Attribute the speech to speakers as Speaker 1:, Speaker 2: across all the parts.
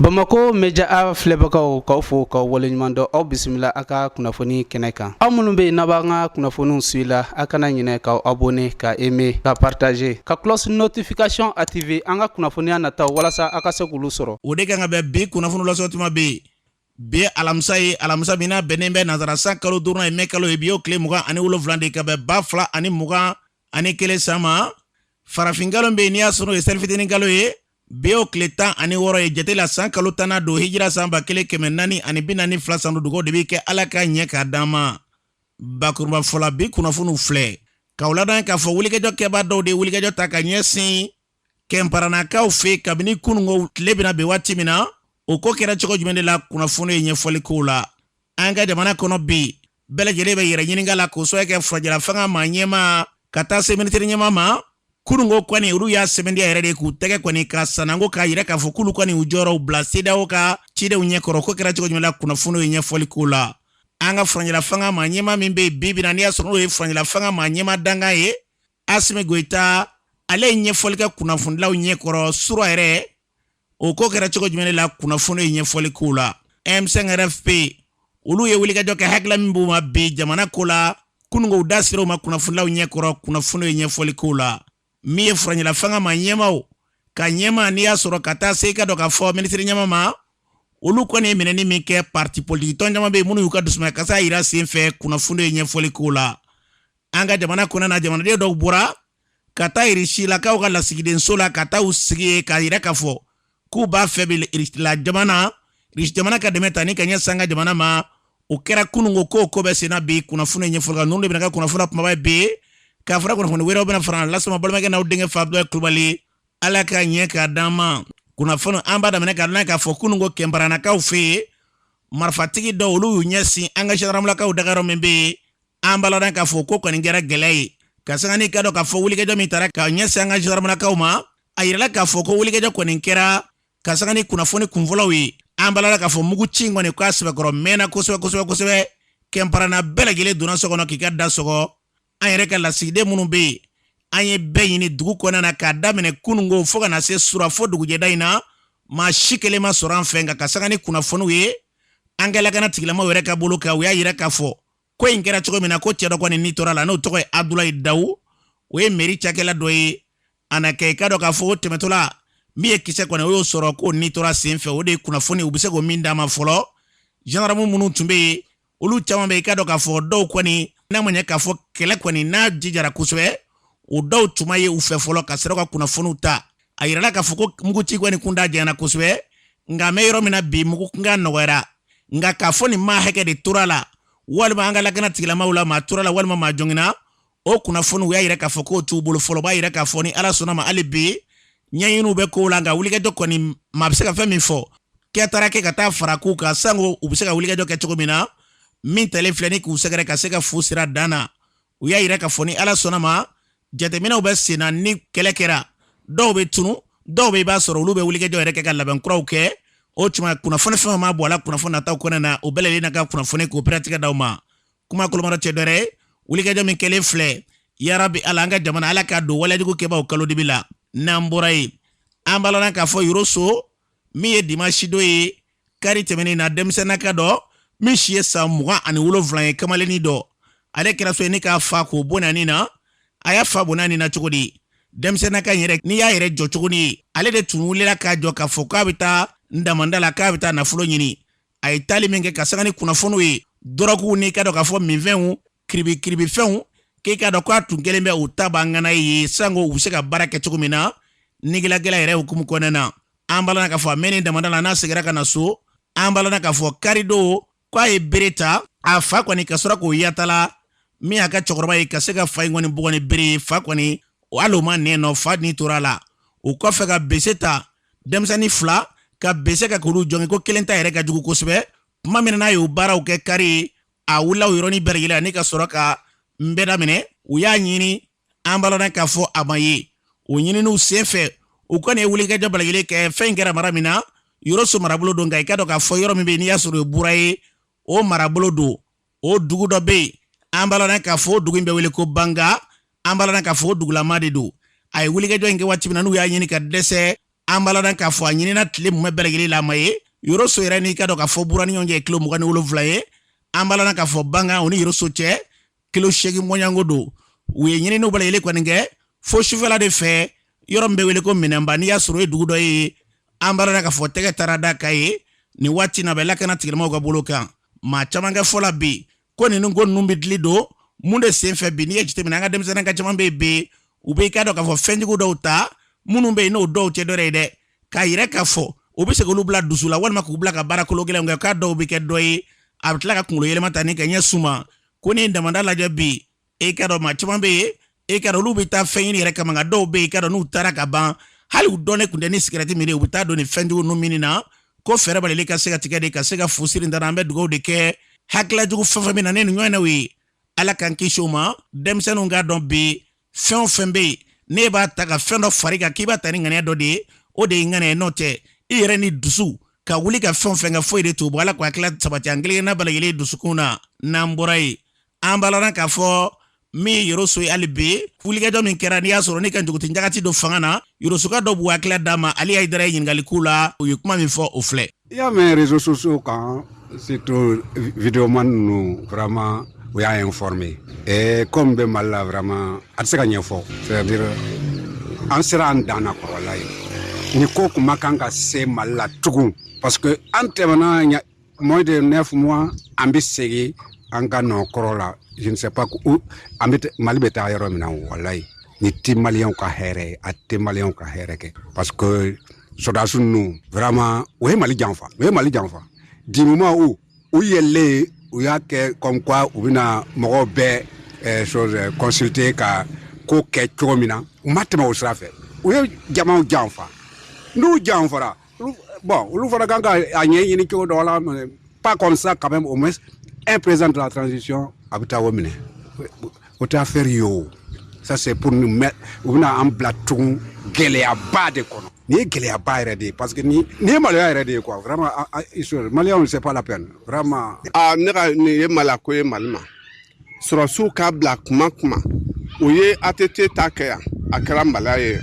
Speaker 1: bamakɔ meja a filɛbagaw k'aw fo k'aw waleɲuman dɔn aw bisimila an ka kunnafoni kɛnɛ kan aw minnu bɛ yen n'a b'an ka kunnafoniw suivi la a kana ɲinɛ k'aw abone ka eme ka partaje ka klɔsi notifikasiyɔn ative an ka kunnafoniya nataw walasa a ka se k'olu sɔrɔ o de kan ka bɛn
Speaker 2: bi kunnafoni lasɔ tuma bɛ yen bi alamisa ye alamisa min n'a bɛnnen bɛ nansara san kalo duurunan ye mɛ kalo ye bi y'o tile mugan ani wolonfila de ka bɛn ba fila ani mugan ani kelen san ma farafinkalo bɛ yen n'i y'a sɔrɔ ye selifitini kalo ye bi y'o tile tan ani wɔɔrɔ ye jate la san kalo tannan don hijira san ba kelen kɛmɛ naani ani bi naani fila san don dugawu de bɛ kɛ ala ka ɲɛ k'a d'an ma bakurubafɔ la bi kunnafoniw filɛ k'aw ladɔnniya k'a fɔ wulikajɔ kɛbaa dɔw de ye wulikajɔ ta ka ɲɛsin kinparanakaw fɛ kabini kununko tile bɛna bin waati min na o ko kɛra cogo jumɛn de la kunnafoni ye ɲɛfɔli k'o la an ka jamana kɔnɔ bi bɛɛ lajɛlen bɛ yɛrɛ ɲininka la k'o sababu kɛ furancɛlafanga maa ɲɛmaa ka taa se minisiri ɲɛmaa ma kununko kɔni olu y'a sɛmɛntiya yɛrɛ de k'u tɛgɛ kɔni ka sananko k'a yira k'a fɔ k'olu kɔni u jɔyɔrɔw bila sedeyawo ka cidenw ɲɛkɔrɔ o ko kɛra cogo jumɛn la kunnafoni ye ɲɛfɔli k'o la an ka furancɛlafanga maa ɲɛmaa min bɛ yen bi bi na n'i y'a sɔrɔ n'o ye furancɛlafanga maa ɲɛmaa dankan ye asimi goyita ale ye ɲɛfɔli kɛ kunnafonilaw ɲɛkɔrɔ sura yɛrɛ o ko kɛra cogo jumɛn la kunnafoni ye ɲɛfɔli k'o la m5 rfp olu ye wulikajɔ kɛ hakilila min b'u ma bi jamana ko la kununko u da sera o ma kunnafonilaw ɲɛkɔrɔ kunnafoni ye ɲɛfɔli k'o la min ye furancɛlafanga maa ɲɛmaaw ka ɲɛmaa n'i y'a sɔrɔ ka taa se i k'a dɔn k'a fɔ minisiri ɲɛmaa ma olu kɔni ye minɛni min kɛ parti politikitɔn caman bɛ yen minnu y'u ka dusumakasi yira sen fɛ kunnafoni ye ɲɛfɔli k'o la an ka jamana kɔnɔna jamanaden dɔw bɔra ka taa irisilakaw ka lasigidenso la ka taa u sigi yen k'a yira k'a fɔ k'u b'a fɛ bɛ irisila jamana irisi jamana ka dɛmɛ ta ni ka ɲɛsin an ka jamana ma o kɛra kunun ko k'o ko bɛ senna bi kunnafoni ɲɛfɔ kan ninnu de bɛna kɛ kunnafoni kunbaba ye bi k'a fɔra kunnafoni wɛrɛw bɛna fara lasɔn balimakɛ n'aw denkɛ fa dɔ kulubali ala ka ɲɛ k'a d'an ma kunnafoni an b'a daminɛ k'a dɔn k'a fɔ kunun ko kinparanakaw fɛ yen marifatigi dɔw olu y'u ɲɛsin an ka zandaramulakaw dagayɔrɔ min bɛ yen an b'a ladɔn k'a fɔ ko kɔni kɛra gɛlɛya ye ka sanga n'i k'a dɔn k'a fɔ wulikajɔ min tara ka ɲɛsin an ka zandaramulakaw ma a yirala k'a fɔ ko wulikajɔ kɔni kɛra ka sanga ni kunnafoni kunfɔlɔw ye an b'a ladɔn k'a fɔ mugu ci kɔni kan sɛbɛkɔrɔ mɛnna kosɛbɛ kosɛbɛ kosɛbɛ kinparana bɛɛ lajɛlen donna so kɔnɔ k'i ka da sɔgɔ an yɛrɛ ka lasigiden minnu bɛ yen an ye bɛɛ ɲini dugu kɔnɔna na k'a daminɛ kununko fo ka na se sura fo dugujɛda in na maa si kelen ma sɔrɔ an fɛ nka ka sanga ni kunnafoniw ye an ka lakana tigilamaw yɛrɛ ka bolo kan u y'a yira k'a fɔ ko in kɛra cogo min na ko cɛ dɔ kɔni ni tora a la n'o tɔgɔ ye abdulayi dawu o ye meri cakɛla dɔ ye a na kɛ i k'a dɔn k'a fɔ o tɛmɛtɔla min ye kisɛ kɔni o y'o sɔrɔ k'o ni tora sen fɛ o de ye kunnafoni u bɛ se k'o min d'an ma fɔlɔ zandaramu minnu tun bɛ yen olu caman bɛ i k'a dɔn k'a fɔ dɔw kɔni n'a ma ɲɛ k'a fɔ kɛlɛ kɔni n'a jijara kosɛbɛ o dɔw tun ma ye u fɛ fɔlɔ ka sɔrɔ ka kunnafoniw ta a yirala k'a fɔ ko muguci kɔni kuntaa janyana kosɛbɛ nka an bɛ yɔrɔ min na bi mugu kunkan nɔgɔyara nka k'a fɔ nin maa hakɛ de tora la walima an ka lakana tigilamaw la maa tora la walima maa joginna o kunnafoni u y'a yira k'a fɔ k'o t'u bolo fɔlɔ b'a yira k'a fɔ ni ala sɔnna ma hali bi ɲɛɲiniw bɛ kow la nka wulikajɔ kɔni maa bɛ se ka fɛn min fɔ kɛ taara kɛ ka taa fara k'u kan sanko u bɛ se ka wulikajɔ kɛ cogo min na min taalen filɛ nin k'u sɛgɛrɛ ka se ka fu sir'a dan na u y'a yira k'a fɔ ni ala sɔnna ma jateminɛw bɛ sen na ni kɛlɛ kɛra dɔw bɛ tunu dɔw bɛ i b'a sɔrɔ olu bɛ wulikajɔ yɛrɛ kɛ ka labɛn kuraw kɛ o tuma kunnafoni fɛn ma bɔ a la kunnafoni nataw kɔnɔ na o bɛɛ lajɛlen na ka kunnafoni k'o pɛrɛntigɛ d'aw ma kuma kolomara cɛ dɔ ye wulikajɔ min kɛlen filɛ yarabi ala an ka jamana ala k'a don walejugu kɛbaaw kalo dibi la n'an bɔra yen an b'a ladɔn k'a fɔ yɔrɔso min ye dimasidon ye kari tɛmɛnen na denmisɛnnakɛ dɔ min si ye san mugan ani wolonfila ye kamalennin dɔ ale kɛra sabu ye nin k'a fa k'o bɔnɛ a ni na a y'a fa bɔnɛ a ni na cogo di denmisɛnnakɛ yɛrɛ n'i y'a yɛrɛ jɔcogo nin ye ale de tun wulila k'a jɔ k'a fɔ k'a bɛ taa damanda la k'a bɛ taa nafolo ɲini a ye taali min kɛ ka sanga ni kunnafoniw ye dɔrɔguw n'i k'a dɔn k'a fɔ minfɛnw kiribikiribifɛnw k'i k'a dɔn k'a tun kɛlen bɛ u tabaa ŋana ye sanko u bɛ se ka baara kɛ cogo min na negilagɛla yɛrɛ hukumu kɔnɔna na an b'a la k'a fɔ a mɛnnen damanda la n'a seginna ka na so an b'a la k'a fɔ karidon k'a ye bere ta a fa kɔni ka sɔrɔ k'o yatala min y'a ka cɛkɔrɔba ye ka se ka fa in kɔni bugɔ ni bere ye fa kɔni hali o ma nɛn nɔ fa ni tora a la o kɔfɛ ka bese ta denmisɛnnin fila ka bese kɛ k'olu jogin ko kelen ta yɛrɛ ka jugu kosɛbɛ tuma min n'a y'o baaraw kɛ kari ye a wulila o yɔrɔnin bɛɛ lajɛlen ani ka sɔrɔ ka n bɛɛ daminɛ u y'a ɲini an b'a ladɔn k'a fɔ a ma ye o ɲininiw sen fɛ u kɔni ye wulikajɔ bɛɛ lajɛlen kɛ fɛn in kɛra mara min na yɔrɔso marabolo don nka i k'a dɔn k'a fɔ yɔrɔ min bɛ yen n'i y'a sɔrɔ o ye bura ye o marabolo don o dugu dɔ bɛ yen an b'a ladɔn k'a fɔ o dugu in bɛ wele ko banga an b'a ladɔn k'a fɔ o dugulamaa de don a ye wulikajɔ in kɛ waati min na n'u y'a ɲini ka dɛsɛ an b'a ladɔn k'a fɔ a ɲinina tile mumɛ bɛɛ lajɛlen la a ma ye yɔrɔso yɛrɛ n'i k'a dɔn k'a fɔ bura ni ɲɔgɔn cɛ kilo mugan ni wolonwula ye an b'a ladɔn k'a fɔ banga o ni yɔrɔso cɛ kilo seegin mɔɲanko don u ye ɲininiw bɛɛ lajɛlen kɔni kɛ fo sufɛla de fɛ yɔrɔ min bɛ wele ko minɛnba n'i y'a sɔrɔ o ye dugu dɔ ye an b'a ladɔn k'a fɔ tɛgɛ taara d'a kan yen nin waati na a bɛ lakana tigilamaw ka bolo kan maa caman ka fɔ la bi ko ninnu ko ninnu bɛ dili don mun de sen fɛ bi n'i y'a jateminɛ an ka denmisɛnnakɛ caman bɛ yen bi u bɛ i k'a dɔn k'a fɔ fɛnjugu dɔw ta minnu bɛ yen n'o dɔw tɛ dɔwɛrɛ ye dɛ k'a yira k'a fɔ u bɛ se k'olu bila dusu la walima k'u bila ka baara kolo gɛlɛnw kɛ k'a dɔw bɛ kɛ dɔ ye a bɛ tila k'a kunkolo yɛlɛma tan ni ka ɲɛ suma ko n'i ye damanda lajɛ bi e k'a dɔn maa caman bɛ yen e k'a dɔn olu bɛ taa fɛn ɲini yɛrɛ kama nka dɔw bɛ yen i k'a dɔn n'u taara ka ban hali u dɔnnen tun tɛ ni sigɛrɛti min ye u bɛ taa don nin fɛnjugu ninnu minni na ko fɛɛrɛ balili ka se ka tigɛ de ka se ka fusiri dara an bɛ dugawu de kɛ hakilila jugu fɛn fɛn bɛ na ni nin ɲɔgɔnnaw ye ala k'an kisi o ma denmisɛnninw k'a dɔn bi fɛn o fɛn bɛ yen n'i b'a ta ka fɛn dɔ fara i kan k'i b'a ta ni ŋaniya dɔ de ye o de ye ŋaniya n'o tɛ i yɛrɛ ni dusu ka wuli ka fɛn o fɛn kɛ foyi de t'o bɔ ala k'o hakilila sabati an kelenkelenna bɛɛ lajɛlen dusukun na n'an bɔra yen an balana k'a fɔ min ye yoroso ye hali bi wulikajɔ min kɛra n'i y'a sɔrɔ ne ka juguti jagati don fanga na yorosoka dɔw b'u hakilila d'a ma ali hayidara ye ɲininkali k'u la u ye kuma min fɔ o filɛ i y'a mɛn
Speaker 3: réseaux sociaux kan surtout videoman ninnu vraiment u y'an informer e ko min bɛ mali la vraiment a tɛ se ka ɲɛfɔ c'est-à-dire an sera an dan na quoi walayi nin ko kun man kan ka se mali la tugun parce que an tɛmɛna Moins de neuf mois an bɛ segin an ka nɔ kɔrɔ la je ne sais pas an bɛ mali bɛ taa yɔrɔ min na walayi nin tɛ maliyɛnw ka hɛrɛ a tɛ maliyɛnw ka hɛrɛ kɛ parce que sɔrɔdasiw ninnu vraiment o ye mali janfa o ye mali janfa du moment où u yɛlɛlen u y'a kɛ comme u bɛna mɔgɔw bɛɛ consulter ka ko kɛ cogo min na u ma tɛmɛ o sira fɛ u ye jama janfa n'u janfa Bon olu fana kan ka a ɲɛɲini cogo dɔ la pas comme ça quand même au moins un président de la transition a bɛ taa o minɛ o tɛ affaire ye o ça c'est pour nous mettre u bɛna an bila tugun gɛlɛyaba de kɔnɔ nin ye gɛlɛyaba yɛrɛ de ye parce que nin ye maloya yɛrɛ de ye quoi vraiment maliyɛnw c'est pas la peine vraiment. aa ne ka nin
Speaker 4: ye maloko ye mali ma. sɔrɔsiw k'a bila kuma kuma u ye ATT ta kɛ yan a kɛra maloya ye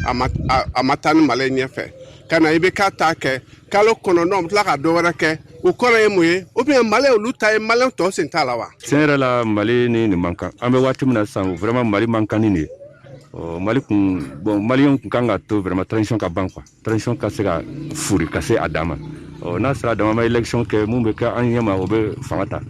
Speaker 4: a ma taa ni mali ye ɲɛfɛ ka na IBK ta kɛ kalo kɔnɔntɔn bɛ tila ka dɔ wɛrɛ kɛ o kɔrɔ ye mun ye ou bien mali ye olu ta ye maliyɛn tɔw sen t'a la wa tiɲɛ yɛrɛ la
Speaker 5: mali ni nin man kan an bɛ waati min na sisan vraiment mali man kan ni nin ye mali kun bon maliyɛnw kun kan k'a to vraiment transition ka ban quoi transition ka se ka foori ka se a dan ma ɔ n'a sera a dan ma élection kɛ min bɛ kɛ an ɲɛmaa o bɛ fanga ta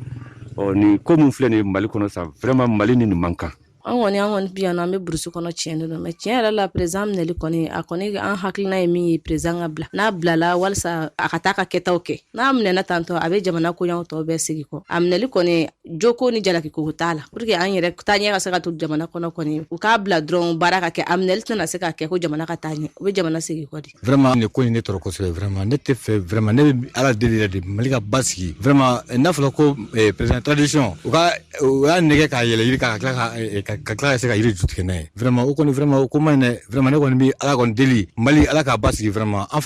Speaker 5: ɔ nin ko min filɛ nin ye mali kɔnɔ sa vraiment mali ni nin man kan an kɔni an kɔni
Speaker 6: bɛ yan an bɛ burusi kɔnɔ tiɲɛ de don mais tiɲɛ yɛrɛ la perezan minɛli kɔni a kɔni an hakilina ye min ye perezan ka bila n'a bilala walisa a ka taa ka kɛtaw kɛ n'a minɛna tan ɔ a bɛ jamana koɲaw tɔw bɛɛ segin kɔ a minɛli kɔni jo ko ni jalaki ko t'a la pour que an yɛrɛ taaɲɛ ka se ka to jamana kɔnɔ kɔni u k'a bila dɔrɔn baara ka kɛ a minɛli tɛna se ka kɛ ko jamana ka taa ɲɛ o bɛ jamana segin kɔ de vraiment nin ko in ne tɔɔrɔ
Speaker 7: kosɛbɛ vraiment ne t'a fɛ vraiment ne bɛ ala deli yɛrɛ de mali ka basigi vraiment eh, n'a fɔra ko eh, président transition u ka u y'a nɛgɛn k'a yɛlɛ yiri ka tila ka eh, tila ka se ka yiri ju tigɛ n'a ye Vraiment o kɔni vraiment o ko man ɲi vraiment ne kɔni bɛ ala kɔni deli mali ala k'a basigi vraiment an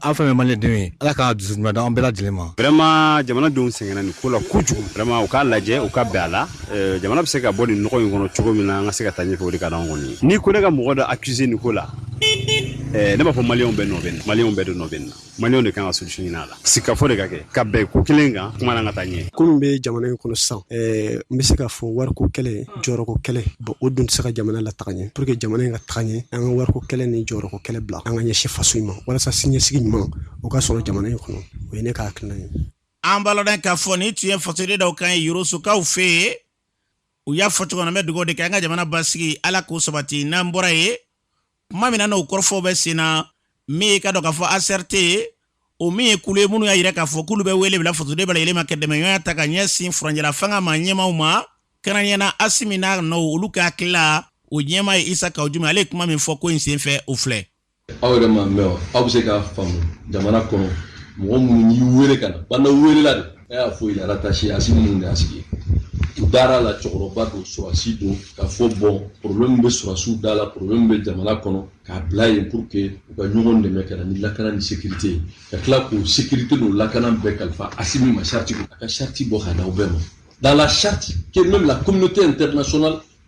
Speaker 7: an fɛn mali denw ye ala ka dususuma d'an bɛɛ lajɛlen ma vraiment jamana denw
Speaker 8: sɛgɛnna nin ko la kojugu vraiment u k'a lajɛ u ka bɛn a la jamana bɛ se ka bɔ nin nɔgɔ in kɔnɔ cogo min na an ka se ka taa ɲɛfɛ o de ka d'anw kɔni ni ko ne ka mɔgɔ dɔ accuser nin ko la ne b'a fɔ Maliɲɛnw bɛɛ nɔ Maliɲɛnw bɛɛ de nɔ bɛ na Maliɲɛnw de kan ka solution ɲini a la, sigikafɔ de ka kɛ, ka bɛn ko kelen kan jamana ka taa ɲɛ. Ko min bɛ jamana in
Speaker 9: kɔnɔ sisan, ɛɛ n bɛ se k'a fɔ wariko kɛlɛ, jɔyɔrɔko kɛlɛ, bon o dun tɛ se ka jamana lataga ɲɛ, pour que jamana in ka taga ɲɛ, an ka wariko kɛlɛ ni jɔyɔrɔko kɛlɛ bila, an ka ɲɛsin faso in ma, walasa siniɲɛsigi ɲuman o ka sɔrɔ jamana in kɔnɔ, o ye ne ka hakilina ye. An b'a ladɔn
Speaker 2: k'a fɔ nin tun ye fasoden dɔw kan ye Yorosokaw fɛ yen, u y'a fɔ cogo min na, n bɛ dugawu de kɛ an ka jamana basigi Ala k'o sabati, n'an bɔra yen tuma min na n'o kɔrɔfɔw bɛ sen na min ye k'a dɔn k'a fɔ ACRT o min ye kulu ye minnu y'a yira k'a fɔ k'olu bɛ wele bila fasoden bɛɛ lajɛlen ma kɛ dɛmɛɲɔgɔnya ta ka ɲɛsin furancɛla fanga ma ɲɛmaw ma kɛrɛnkɛrɛnnenya la Asimi n'a nɔw olu ka hakili la o ɲɛma ye Isa Kawu Jim ale ye kuma min fɔ ko in senfɛ o filɛ aw yɛrɛ m'a
Speaker 10: mɛn aw bɛ se k'a faamu jamana kɔnɔ mɔgɔ minnu y'i wele ka na Bandaw welela de ne y'a fɔ à la retraite Asimi ninnu de y'a sigi u dara a la cɛkɔrɔba don sɔrɔsi don k'a fɔ bon problème bɛ sɔrɔsiw da la problème bɛ jamana kɔnɔ k'a bila yen pour que u ka ɲɔgɔn dɛmɛ ka na ni lakana ni sécurité ye ka tila k'o sécurité n'o lakana bɛɛ kalifa asimi ma charte a ka charte bɔ ka d'aw bɛɛ ma dans la charte que même la communauté internationale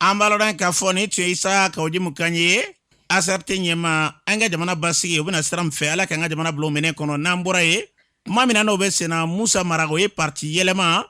Speaker 10: an b'a ladɔn
Speaker 2: k'a fɔ nin tun ye Isa Kawu Jim kan ye ACRT ɲɛma an ka jamana basigi o bɛna sira min fɛ ala k'an ka jamana bolo minɛ kɔnɔ n'an bɔra yen tuma min na n'o bɛ senna musa mara o ye pariti yɛlɛma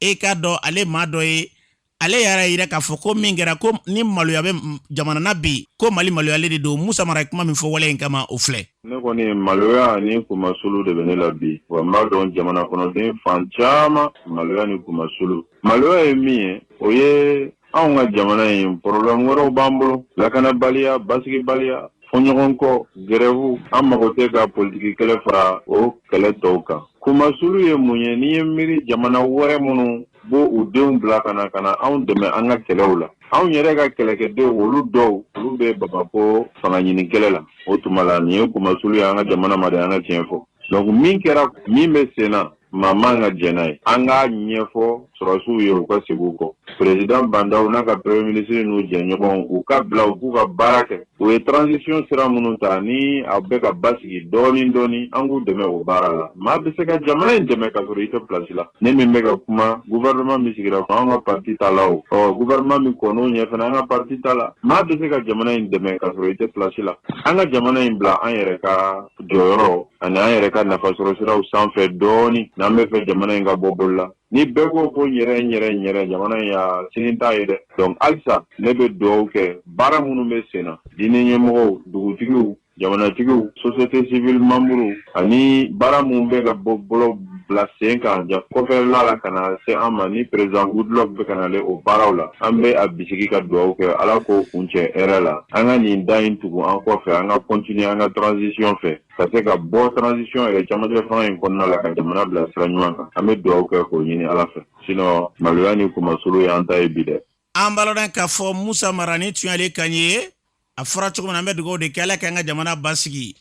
Speaker 2: e k'a dɔn ale maa dɔ ye ale yɛrɛ y'a yira k'a fɔ ko min kɛra ko ni maloya bɛ jamana na bi ko mali maloyalen de don musa mara kuma min fɔ wale in kama o filɛ ne kɔni
Speaker 11: maloya ani kunmasulu de bɛ ne la bi wa n b'a dɔn jamana kɔnɔden fan caman maloya ni kunmasulu maloya ye min ye o ye anw ka jamana in problème wɛrɛw b'an bolo lakanabaliya basigibaliya fɔɲɔgɔnkɔ grève an mago tɛ ka politiki kɛlɛ fara o kɛlɛ tɔw kan kunmasulu ye mun ye n'i ye miiri jamana wɛrɛ minnu b'u denw bila ka na ka na anw dɛmɛ an ka kɛlɛw la anw yɛrɛ ka kɛlɛkɛdenw olu dɔw olu bɛ bamako fanga ɲini kɛlɛ la o tuma la nin ye kunmasulu ye an ka jamana ma dɛ an ka tiɲɛ fɔ donc min kɛra min bɛ sen na maa man ka jɛn n'a ye an k'a ɲɛfɔ sɔrɔsiw ye u ka segin u kɔ perezidan bandaw n'a ka premier ministre n'u jɛɲɔgɔnw u ka bila u k'u ka baara kɛ u ye transition sira minnu ta ni a bɛ ka basigi dɔɔnin dɔɔnin an k'u dɛmɛ o baara la maa bɛ se ka jamana in dɛmɛ ka sɔrɔ i tɛ place la ne min bɛ ka kuma gouvernement min sigira an ka parti t'a la o ɔ gouvernement min kɔn'o ɲɛ fana an ka parti t'a la maa bɛ se ka jamana in dɛmɛ ka sɔrɔ i tɛ place la an ka jamana in bila an yɛrɛ ka jɔyɔrɔ ani an yɛrɛ ka nafa sɔrɔsiraw sanfɛ dɔɔnin n'an bɛ fɛ jamana in ka bɔ bolo la ni bɛɛ ko ko yɛrɛ yɛrɛ yɛrɛ jamana in y'a sini t'a ye dɛ donc halisa ne bɛ dugawu kɛ baara minnu bɛ sen na diinɛ ɲɛmɔgɔw dugutigiw jamanatigiw société civile membres ani baara minnu bɛ ka bɔ bolo bila sen kan ja kɔfɛla la ka na se an ma ni président goodluck bɛ ka nalen o baaraw la an bɛ a bisigi ka dugawu kɛ ala k'o kuncɛ hɛrɛ la an ka nin da in tugu an kɔfɛ an ka continuer an ka transition fɛ ka se ka bɔ transition yɛrɛ camancɛ fanga in kɔnɔna la ka jamana bila sira ɲuman kan an bɛ dugawu kɛ k'o ɲini ala fɛ sinon maloya ni kunmasulu ye an ta ye bi dɛ an balo k'a
Speaker 2: fɔ musa mara nin tun y'ale kan ye a fɔra cogo min na an bɛ dugawu de kɛ ala ka an ka jamana basigi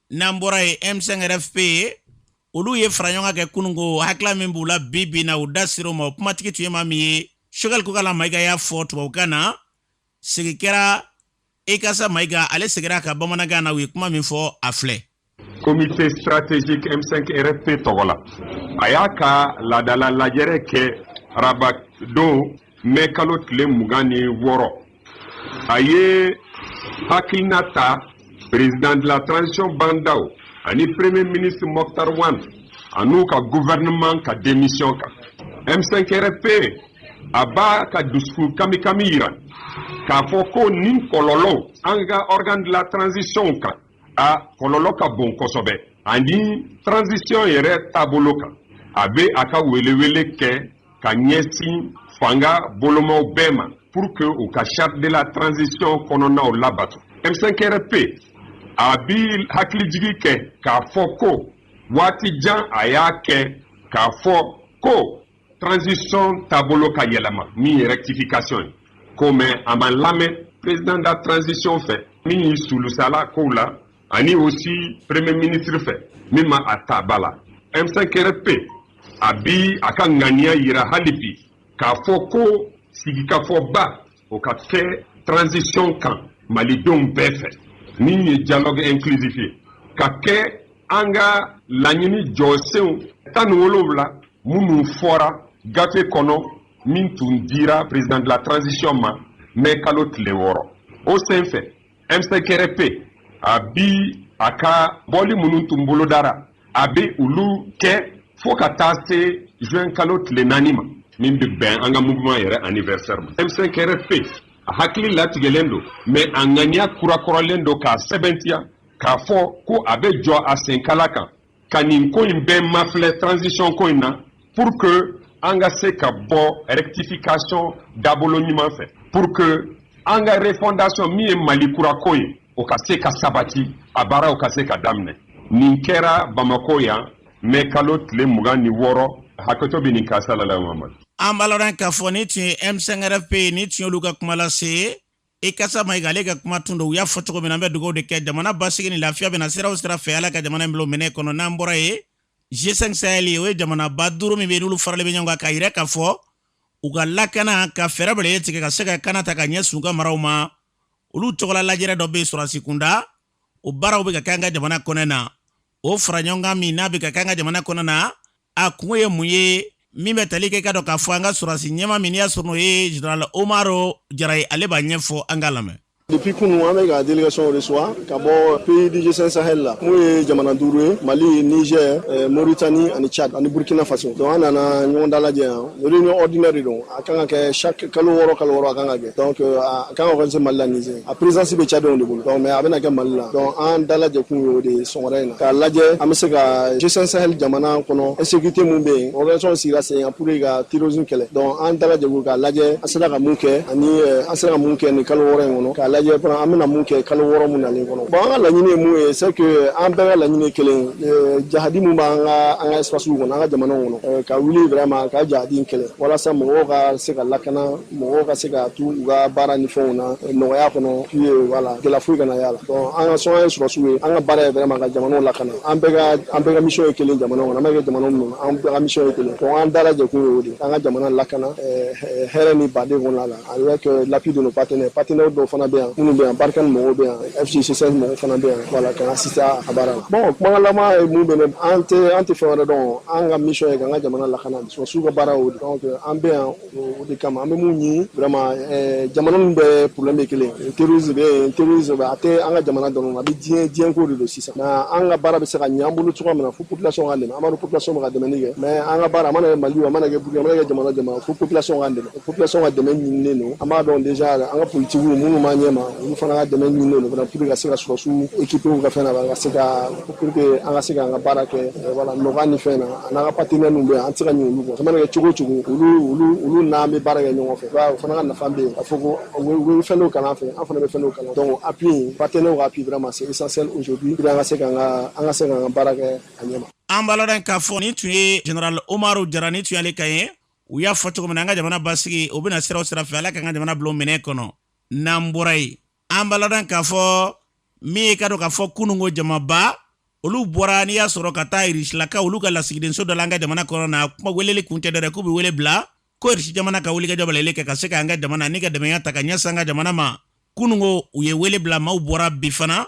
Speaker 2: n'an bɔra ye M5RFP ye olu ye fara ɲɔgɔn kɛ kunun ko hakila min b'u la bi bi in na u da ser'o ma o kumatigi tun ye maa min ye choguel kokalla maïga y'a fɔ tubabukan na segin kɛra ikassa maïga ale segira a kan bamanankan na u ye kuma min fɔ a filɛ
Speaker 12: comité stratégique M5RFP tɔgɔ la a y'a ka laadala lajɛrɛ kɛ araba don mɛ kalo tile mugan ni wɔɔrɔ a ye hakilina ta président de la transition bah n'daw ani premier ministre moctar ouane an'u ka gouvernement ka démission kan m5rfp a b'a ka dusukun kamikami yira k'a fɔ ko nin kɔlɔlɔw an ka organe de la transition kan a kɔlɔlɔ ka bon kosɛbɛ ani transition yɛrɛ taabolo kan a bɛ a ka welewele kɛ ka ɲɛsin fanga bolomaw bɛɛ ma pour que u ka charte de la transition kɔnɔnaw labato m5rfp a bi hakilijigi kɛ k'a fɔ ko waati jan a y'a kɛ k'a fɔ ko transition taabolo ka yɛlɛma min ye rectification ye ko mais a ma lamɛn président de la transition fɛ min y'i sulusala kow la ani aussi premier ministre fɛ min ma a ta ba la m5rfp a bi a ka ŋaniya yira hali bi k'a fɔ ko sigikafɔba o ka kɛ transition kan malidenw bɛɛ fɛ min ye dialogue inclusif ye ka kɛ an ka laɲini jɔsenw tan ni wolonwula minnu fɔra gafe kɔnɔ min tun dira président de la transition ma mɛ kalo tile wɔɔrɔ o senfɛ m5rfp a bi a ka bɔli minnu tun bolodara a bɛ olu kɛ fo ka taa se juin kalo tile naani ma min bɛ bɛn an ka mouvement yɛrɛ anniversaire ma m5rfp a hakili latigɛlen don mais a ŋaniya kurakuralen don k'a sɛbɛntiya k'a fɔ ko a bɛ jɔ a senkala kan ka nin ko in bɛɛ mafilɛ transition ko in na pour que an ka se ka bɔ rectification dabolo ɲuman fɛ pour que an ka refondation min ye mali kura ko ye o ka se ka sabati a baaraw ka se ka daminɛ nin kɛra bamako yan mɛ kalo tile mugan ni wɔɔrɔ hakɛto bɛ nin kan salala mamadu an b'a ladɔn k'a fɔ
Speaker 2: nin tun ye m5rfp nin tun y'olu ka kuma lase ikasa mayiga ale ka kuma tun don u y'a fɔ cogo min na an bɛ dugawu de kɛ jamana basigi ni lafiya bɛ na sira o sira fɛ ala ka jamana in bila o minɛn kɔnɔ n'an bɔra yen g5 sahel o ye jamanaba duuru min bɛ n'olu faralen bɛ ɲɔgɔn kan k'a yira k'a fɔ u ka lakana ka fɛɛrɛ bɛrɛ tigɛ ka se ka kana ta ka ɲɛsin u ka maraw ma olu tɔgɔla lajɛrɛ dɔ bɛ yen sɔrɔdasi kunda o baaraw bɛ ka kɛ an ka jamana kɔnɔ na o fara ɲɔgɔn kan min n'a bɛ ka kɛ an ka jamana kɔnɔ na a kunko ye mun ye min bɛ tali kɛ k'a dɔn k'a fɔ an ka sɔrɔdasi ɲɛmaa min y'a sɔrɔ n'o ye general umaru jara ye ale b'a ɲɛfɔ an k'a lamɛn Depuis kunu an bɛ ka
Speaker 13: délégationw reçoit ka bɔ pays du G5 Sahel la mun ye jamana duuru ye Mali, Niger, eh, Mauritanie ani Tchad ani Burkina Faso. Donc an nana ɲɔgɔn dalajɛ yan Réunion ordinaire de don a kan ka kɛ chaque kalo wɔɔrɔ kalo wɔɔrɔ a kan ka kɛ donc euh, a kan ka organiser Mali la Niger a présidence bɛ Tchadien de bolo donc mais a bɛna kɛ Mali la donc an dalajɛkun ye o de ye sɔgɔmada in na k'a lajɛ an bɛ se ka G5 Sahel jamana kɔnɔ insécurité mun bɛ yen organisation sigira sen kan pour que ka terrorisme kɛlɛ donc an dalajɛkun k'a lajɛ an sera ka mun kɛ ani euh, an sera ka mun kɛ nin kalo wɔɔrɔ in kɔnɔ k'a lajɛ fana an bɛna mun kɛ kalo wɔɔrɔ mun nalen kɔnɔ bon an ka laɲini ye mun ye c'est que an bɛɛ ka laɲini ye kelen ye euh, jahadi mun b'an ka an ka espace kɔnɔ an ka jamanaw kɔnɔ ka wuli vraiment ka jahadi in kɛlɛ walasa mɔgɔw ka se ka lakana mɔgɔw ka se ka to u ka baara ni fɛnw na nɔgɔya kɔnɔ eh voilà gɛlɛya foyi kana y'a la donc an ka sɔn an ye sɔrɔsiw ye an ka baara ye vraiment ka jamanaw lakana an an bɛɛ ka mission ye kelen jamanaw kɔnɔ an bɛ kɛ jamana min an bɛɛ ka mission ye kelen donc an dalajɛkun ye o de k'an ka jamana lakana hɛrɛ ni baden kɔnɔ la Avec l'appui de nos partenaires partenaire dɔw fana bɛ yan minnu bɛ yan Barkhane mɔgɔw bɛ yan FC G5 mɔgɔw fana bɛ yan voilà ka assister a baara la bon kumagalama ye minnu bɛ an tɛ an tɛ fɛn wɛrɛ dɔn an ka mission ye ka an ka jamana lakana sɔrɔsiw ka baara o de donc an bɛ yan o de kama an bɛ mun ɲini vraiment jamana ninnu bɛɛ problème ye kelen terrorisme bɛ yen terrorisme a tɛ an ka jamana dɔrɔn a bɛ diɲɛ diɲɛko de don sisan mais an ka baara bɛ se ka ɲa an bolo cogoya min na fo population ka an b'a dɔn population bɛ ka dɛmɛ kɛ mais an ka baara mana kɛ mali a mana kɛ burkina a mana kɛ jamana o jamana fo population ka dɛmɛ population ka dɛmɛ ɲininen don an b'a dɔn déjà an ka politigiw minnu b'an ɲɛma olu fana ka dɛmɛ ɲininen don fana pour ka se ka sɔrɔsiw équiper ka fɛn na ka se ka pour que an ka se k'an ka baara kɛ eh, voilà nɔgɔya ni fɛn na a n'an ka partenaire ninnu bɛ yan an tɛ se ka ɲinɛ olu kɔ a mana kɛ cogo o cogo olu olu olu n'an bɛ baara kɛ ɲɔgɔn fɛ o fana ka nafa bɛ yen k'a fɔ ko u bɛ fɛn dɔw kalan an fɛ an fana bɛ fɛn dɔw kalan donc appui partenaire ka appui vraiment c'est essentiel aujourd'hui pour an ka se k'an ka an ka se k'an ka baara kɛ a ɲɛma an b'a ladɔn k'a fɔ
Speaker 2: nin tun ye général Umaru Jara nin tun y'ale kan ye u y'a fɔ cogo min na an ka jamana basigi o bɛna sira o sira fɛ ala k'an ka jamana bila o minɛn kɔnɔ n'an bɔra yen an b'a ladɔn k'a fɔ min ye k'a dɔn k'a fɔ kununko jamaba olu bɔra n'i y'a sɔrɔ ka taa irisilaka olu ka lasigidenso da la an ka jamana kɔnɔ na kuma weleli kun tɛ dɔ dɛ k'u bɛ wele bila ko irisi jamana ka wulikajɔ balalen kɛ ka se k'an ka jamana ni ka dɛmɛya ta ka ɲɛsin an ka jamana ma kununko u ye wele bila maaw bɔra bi fana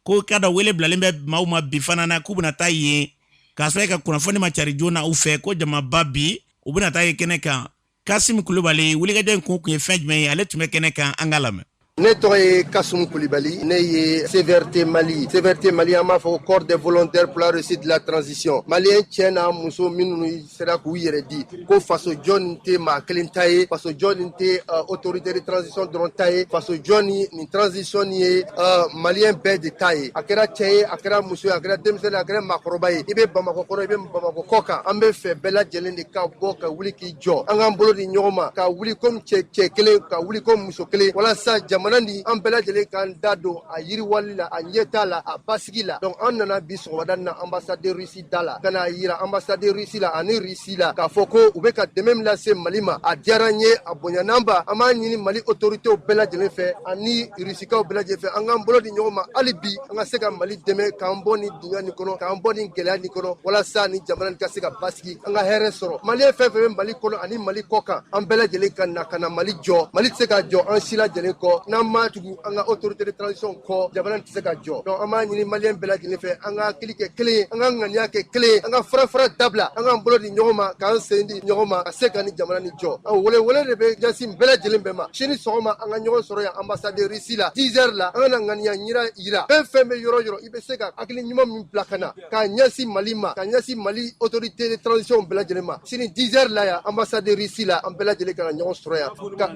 Speaker 2: ko k'a dɔn wele bilalen bɛ maaw ma bi fana na k'u bɛna taa yen k'a sɔrɔ e ka kunnafoni ma cari joona u fɛ ko jamaba bi u bɛna taa ye kɛnɛ kan kasimu kulibali wulikajɔ in kun o kun ye fɛn jumɛn ye ale tun bɛ kɛnɛ kan an ka lamɛn ne tɔgɔ
Speaker 14: ye kasimu kulibali ne ye cvrt mali cvrt mali an b'a fɔ corps des volontaires pour la réussite de la transition maliyɛn cɛ n'a muso minnu sera k'u yɛrɛ di ko faso jɔ nin tɛ maa kelen ta ye faso jɔ nin tɛ uh, autorité de transition dɔrɔn ta ye faso jɔ ni nin transition nin ye uh, maliyɛn bɛɛ de ta ye a kɛra cɛ ye a kɛra muso ye a kɛra denmisɛnnin a kɛra maakɔrɔba ye i bɛ bamakɔ kɔnɔ i bɛ bamakɔ kɔ kan an b'a fɛ bɛɛ lajɛlen de ka bɔ ka wuli k'i jɔ an k'an bolo di ɲɔgɔn ma ka wuli komi cɛ cɛ kelen ka wuli komi muso kelen walasa jamana ni an bɛɛ lajɛlen k'an da don a yiriwali la a ɲɛtaa la a basigi la donc an nana bi sɔgɔmada na ambassade russie da la ka n'a yira anbasadi risi la ani risi la k'a fɔ ko u bɛ ka dɛmɛ min lase mali ma a diyara an ye a bonyana an ma an b'a ɲini mali otoritew bɛɛ lajɛlen fɛ ani risikaw bɛɛ lajɛlen fɛ an k'an bolo di ɲɔgɔn ma hali bi an ka se ka mali dɛmɛ k'an bɔ ni dunya nin kɔnɔ k'an bɔ ni gɛlɛya nin kɔnɔ walasa ni jamana nin ka se ka basigi an ka hɛrɛ sɔrɔ maliyɛn fɛn fɛn bɛ mali kɔnɔ ani mali kɔ kan an bɛɛ lajɛlen ka na ka na mali jɔ mali tɛ se ka jɔ an si lajɛlen kɔ n'an ma tugu an ka autorité de transition kɔ jamana tɛ se ka jɔ donc an b'a ɲini maliyɛn bɛɛ lajɛlen fɛ an ka hakili kɛ kelen ye an ka ŋaniya kɛ kelen ye an ka farafara dabila an k'an bolo di ɲɔgɔn ma k'an sen di ɲɔgɔn ma ka se ka ni jamana ni jɔ an wele wele de bɛ ɲɛsin bɛɛ lajɛlen bɛɛ ma sini sɔgɔma an ka ɲɔgɔn sɔrɔ yan ambassade de russie la 10 heures la an ka na ŋaniya yira yira fɛn fɛn bɛ yɔrɔ yɔrɔ i bɛ se ka hakili ɲuman min bila ka na ka ɲɛsin mali ma ka ɲɛsin mali autorité de transition bɛɛ lajɛlen ma sini 10 heures la yan ambassade de russie la an bɛɛ lajɛlen ka na ɲɔgɔn sɔrɔ yan ka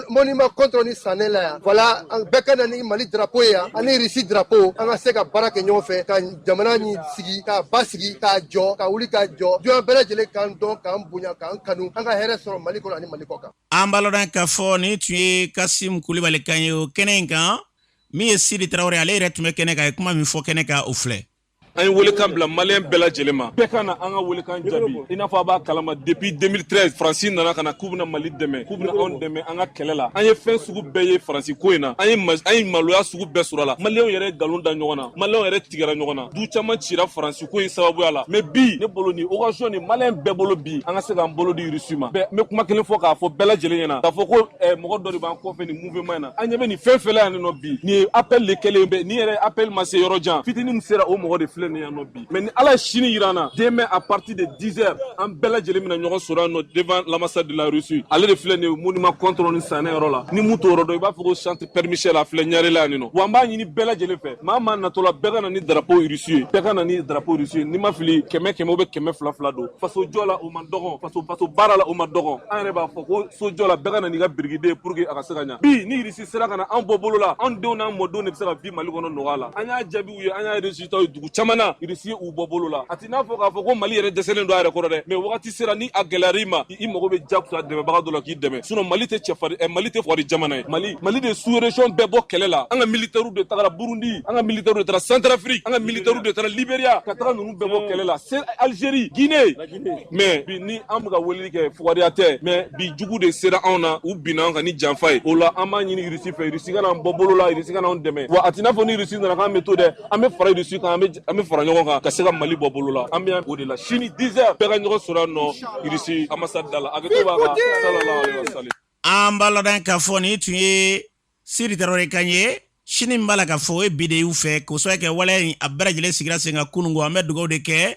Speaker 14: monument kɔntɔrɔn ni sanɛ la yan voilà an bɛɛ ka na ni mali drapeau ye yan ani russie drapeau an ka se ka baara kɛ ɲɔgɔn fɛ ka jamana ni sigi k'a basigi k'a jɔ ka wuli ka jɔ dunya bɛɛ lajɛlen k'an dɔn k'an bonya k'an kanu an ka hɛrɛ sɔrɔ mali kɔnɔ ani mali kɔ kan an b'a ladɔn k'a
Speaker 2: fɔ nin tun ye kasim kulibali kan ye o kɛnɛ in kan min ye sidi tarawele ale yɛrɛ tun bɛ kɛnɛ kan a ye kuma min fɔ kɛnɛ kan o filɛ
Speaker 15: an ye welekan bila maliyɛn bɛɛ lajɛlen ma bɛɛ ka na an ka welekan jaabi i n'a fɔ a b'a kalama depuis 2013 faransi nana ka na k'u bɛna mali dɛmɛ k'u bɛna anw dɛmɛ an ka kɛlɛ la an ye fɛn sugu bɛɛ ye faransi ko in na an ye an ye maloya sugu bɛɛ sɔrɔ a la maliyɛnw yɛrɛ ye nkalon da ɲɔgɔn na maliyɛnw yɛrɛ tigɛra ɲɔgɔn na du caman cira faransi ko in sababuya la mais bi ne bolo ni occasion ni maliyɛn bɛɛ bolo bi an ka se k'an bolo di irisi ma bɛɛ bɛ kuma kelen fɔ k'a fɔ bɛɛ lajɛlen ɲɛna k'a fɔ ko mɔgɔ dɔ de b'an kɔfɛ nin mouvement na an ɲɛ bɛ nin fɛn fɛn la yan nɔ bi nin ye appel de kɛlen bɛ nin yɛrɛ appel ma se yɔrɔ jan fitini min sera o mɔgɔ de filɛ nin yan nɔ bi mais ni ala ye sini yira an na demain à partir de 10 heures an bɛɛ lajɛlen bɛna ɲɔgɔn sɔrɔ yan nɔ devant l'ambassade de la Russie ale de filɛ nin ye monument Kontoron ni sanɛ yɔrɔ la ni min t'o yɔrɔ dɔn i b'a fɔ ko centre Père Michel a filɛ Ɲarela yan nɔ wa an b'a ɲini bɛɛ lajɛlen fɛ maa maa natɔla bɛɛ ka na ni drapeau Russie ye bɛɛ ka na ni drapeau Russie ye ni n ma fili kɛmɛ kɛmɛ ou bien kɛmɛ fila fila don faso jɔ la o man dɔgɔn faso faso baara la o man dɔgɔn an yɛrɛ b'a fɔ ko so jɔ la bɛɛ ka na n'i ka birikiden ye pour que a ka se ka ɲa bi ni irisi sera ka na an bɔ bolo la an denw n'an mɔdenw de bɛ se ka vivre mali kɔnɔ nɔgɔya la an y'a jaabiw ye an y'a résultat ye dugu caman na irisi ye u bɔ bolo la a t'i n'a fɔ k'a fɔ ko mali yɛrɛ dɛsɛlen don a yɛrɛ kɔrɔ dɛ mais wagati sera ni a gɛlɛyar'i ma i mago bɛ jakusa dɛmɛbaga dɔ la k'i dɛmɛ sinon mali tɛ cɛfari eh, mali tɛ fugari jamana ye mali mali de sous région bɛɛ bɔ kɛlɛ la an ka militaires de tagara burundi an ka militaires de taara centrafrique an ka militaires de taara liberia ka taga ninnu bɛɛ bɔ kɛlɛ la algérie guinée mais bi ni an bɛ ka weleli kɛ fugariya tɛ mais bi jugu de sera anw na u binna an kan ni janfa ye o la an b'a ɲini irisi fɛ irisi ka na an bɔ bolo la irisi ka na anw dɛmɛ wa a t'i n'a fɔ ni irisi nana k'an bɛ to dɛ an bɛ fara irisi kan an bɛ fara ɲɔgɔn kan ka se ka mali bɔ bolo la an bɛ o de la sini 10 heures bɛɛ ka ɲɔgɔn sɔrɔ yan nɔ irisi ambassade da la a bɛ to b'a ka salala sali an b'a
Speaker 2: ladɔn k'a fɔ nin tun ye sidi tarawele kan ye sini min b'a la k'a fɔ o ye bi de y'u fɛ k'o sababu kɛ waleya in a bɛɛ lajɛlen sigira sen kan kunun ko an bɛ dugawu de kɛ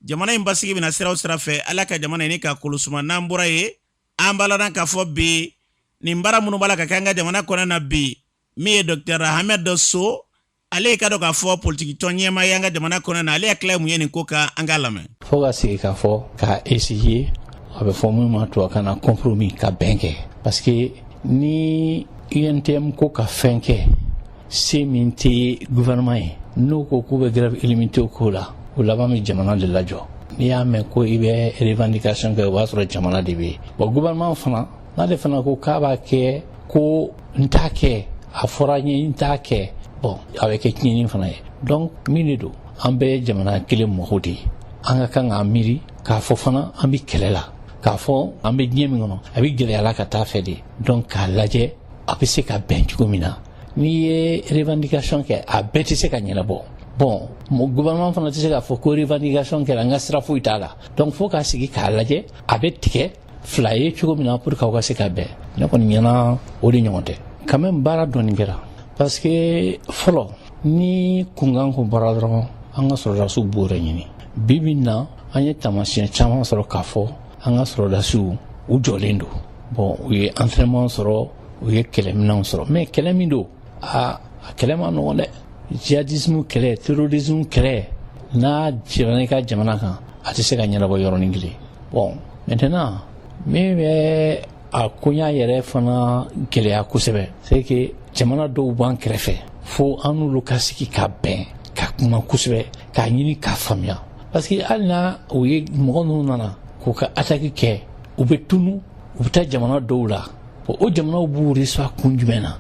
Speaker 2: jamana in basigi bɛna sira o sira fɛ ala ka jamana in ka kolosuma n'an bɔra yen an b'a ladɔn k'a fɔ bi nin baara minnu b'a la ka kɛ an ka jamana kɔnɔ na bi min ye docteur Hamed Sow ale i k'a dɔn k'a fɔ politikitɔn ɲɛmaa ye an ka jamana kɔnɔ na ale hakilila ye mun ye nin ko kan an k'a lamɛn fo ka sigi k'a
Speaker 16: fɔ ka essayer a bɛ fɔ min ma tubabukan na compromis ka bɛn kɛ parce que ni UNTM ko ka fɛn kɛ Se min tɛ gouvernement ye n'o ko k'u bɛ grève illimitée k'o la o laban bɛ jamana de lajɔ n'i y'a mɛn ko i bɛ revendication kɛ o b'a sɔrɔ jamana de bɛ yen bon gouvernement fana n'ale fana ko k'a b'a kɛ ko n t'a kɛ a fɔra n ye n t'a kɛ bon a bɛ kɛ tiɲɛni fana ye donc min de don an bɛɛ ye jamana kelen mɔgɔ de ye an ka kan k'an miiri k'a fɔ fana an bɛ kɛlɛ la k'a fɔ an bɛ diɲɛ min kɔnɔ a bɛ gɛlɛya la ka taa fɛ de donc k'a lajɛ a bɛ se ka bɛn cogo min na n'i ye revendication kɛ a bɛɛ tɛ se ka ɲɛnabɔ bon gouvernement fana tɛ se k'a fɔ ko revendication kɛra n ka sira foyi t'a la donc fo ka sigi k'a lajɛ a bɛ tigɛ fila ye cogo min na pour que aw ka se ka bɛn ne kɔni ɲɛna o de ɲɔgɔn tɛ quand même baara dɔɔni kɛra parce que fɔlɔ ni kunkan kun bɔra dɔrɔn an ka sɔrɔdasiw b'o de ɲini bi bi in na an ye taamasiyɛn caman sɔrɔ k'a fɔ an ka sɔrɔdasiw u jɔlen don bon u ye entraînement sɔrɔ u ye kɛlɛminɛnw sɔrɔ mais kɛlɛ min don aa a kɛlɛ man nɔgɔ dɛ jihadismu kɛlɛ terorismu kɛlɛ n'a jiginna i ka jamana kan a tɛ se ka ɲɛnabɔ yɔrɔnin kelen bon maintenant min bɛ a koɲa yɛrɛ fana gɛlɛya kosɛbɛ c'est que jamana dɔw b'an kɛrɛfɛ fo an n'olu ka sigi ka bɛn ka kuma kosɛbɛ k'a ɲini k'a faamuya parce que hali na u ye mɔgɔ ninnu nana k'u ka attaque kɛ u bɛ tunu u bɛ taa jamana dɔw la bon o jamanaw b'u reçoit kun jumɛn na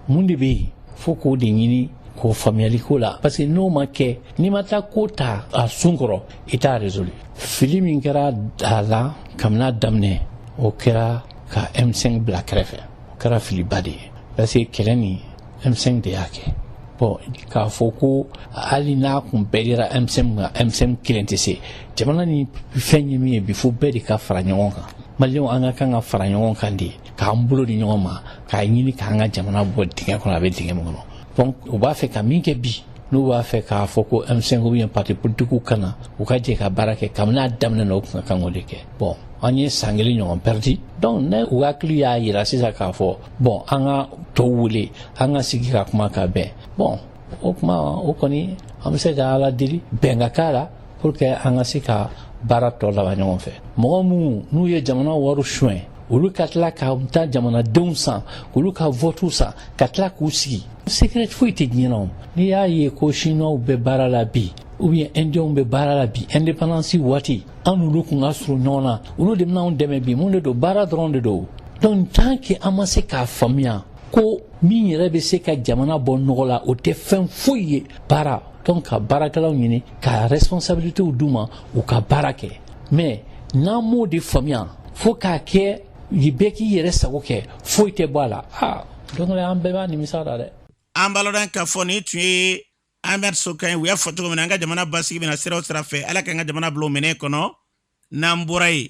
Speaker 16: mun de bɛ yen fo k'o de ɲini k'o faamuyali ko la parce que n'o ma kɛ n'i ma taa ko ta a sun kɔrɔ i t'a résolu fili min kɛra a la kabini a daminɛ o kɛra ka M5 bila kɛrɛfɛ o kɛra filiba de ye parce que kɛlɛ nin M5 de y'a kɛ bon k'a fɔ ko hali n'a kun bɛɛ dira M5 ma M5 kelen tɛ se jamana ni fɛn ye min ye bi fo bɛɛ de ka fara ɲɔgɔn kan maliyɛnw an ka kan ka fara ɲɔgɔn kan de k'an bolo di ɲɔgɔn ma k'a ɲini k'an ka jamana bɔ dingɛ kɔnɔ a bɛ dingɛ min kɔnɔ donc u b'a fɛ ka min kɛ bi n'u b'a fɛ k'a fɔ ko M5 ou bien parti politique ka na u ka jɛ ka baara kɛ kabini a daminɛ na u kun ka kan k'o de kɛ bon an ye san kelen ɲɔgɔn perdi donc n'u hakili y'a yira sisan k'a fɔ bon an ka tɔw wele an ka sigi ka kuma ka bɛn bon o kuma o kɔni an bɛ se ka ala deli bɛn ka k'a la pour que an ka se ka baara tɔ laban ɲɔgɔn fɛ mɔgɔ minnu n'u ye jamana wari suɲɛ olu ka tila ka taa jamanadenw san k'olu ka vote san ka tila k'u sigi secret foyi tɛ diɲɛ na o n'i y'a ye ko siniwaw bɛ baara la bi ou bien indiens bɛ baara la bi indépendance waati an n'olu kun ka surun ɲɔgɔn na olu de bɛna anw dɛmɛ bi mun de don baara dɔrɔn de don donc tant que an ma se k'a faamuya ko min yɛrɛ bɛ se ka jamana bɔ nɔgɔ la o tɛ fɛn foyi ye baara donc ka baarakɛlaw ɲini ka responsabilitew d'u ma u ka baara kɛ mais n'an m'o de faamuya fo k'a kɛ bɛɛ k'i yɛrɛ sago kɛ foyi tɛ bɔ a la aa don dɔ la an bɛɛ b'a nimisa la dɛ an b'aw ladɔnniya k'a
Speaker 2: fɔ nin tun ye Hamed Sow kan u y'a fɔ cogo min na an ka jamana basigi bɛna sira o sira fɛ ala k'an ka jamana bila o minɛn kɔnɔ n'an bɔra yen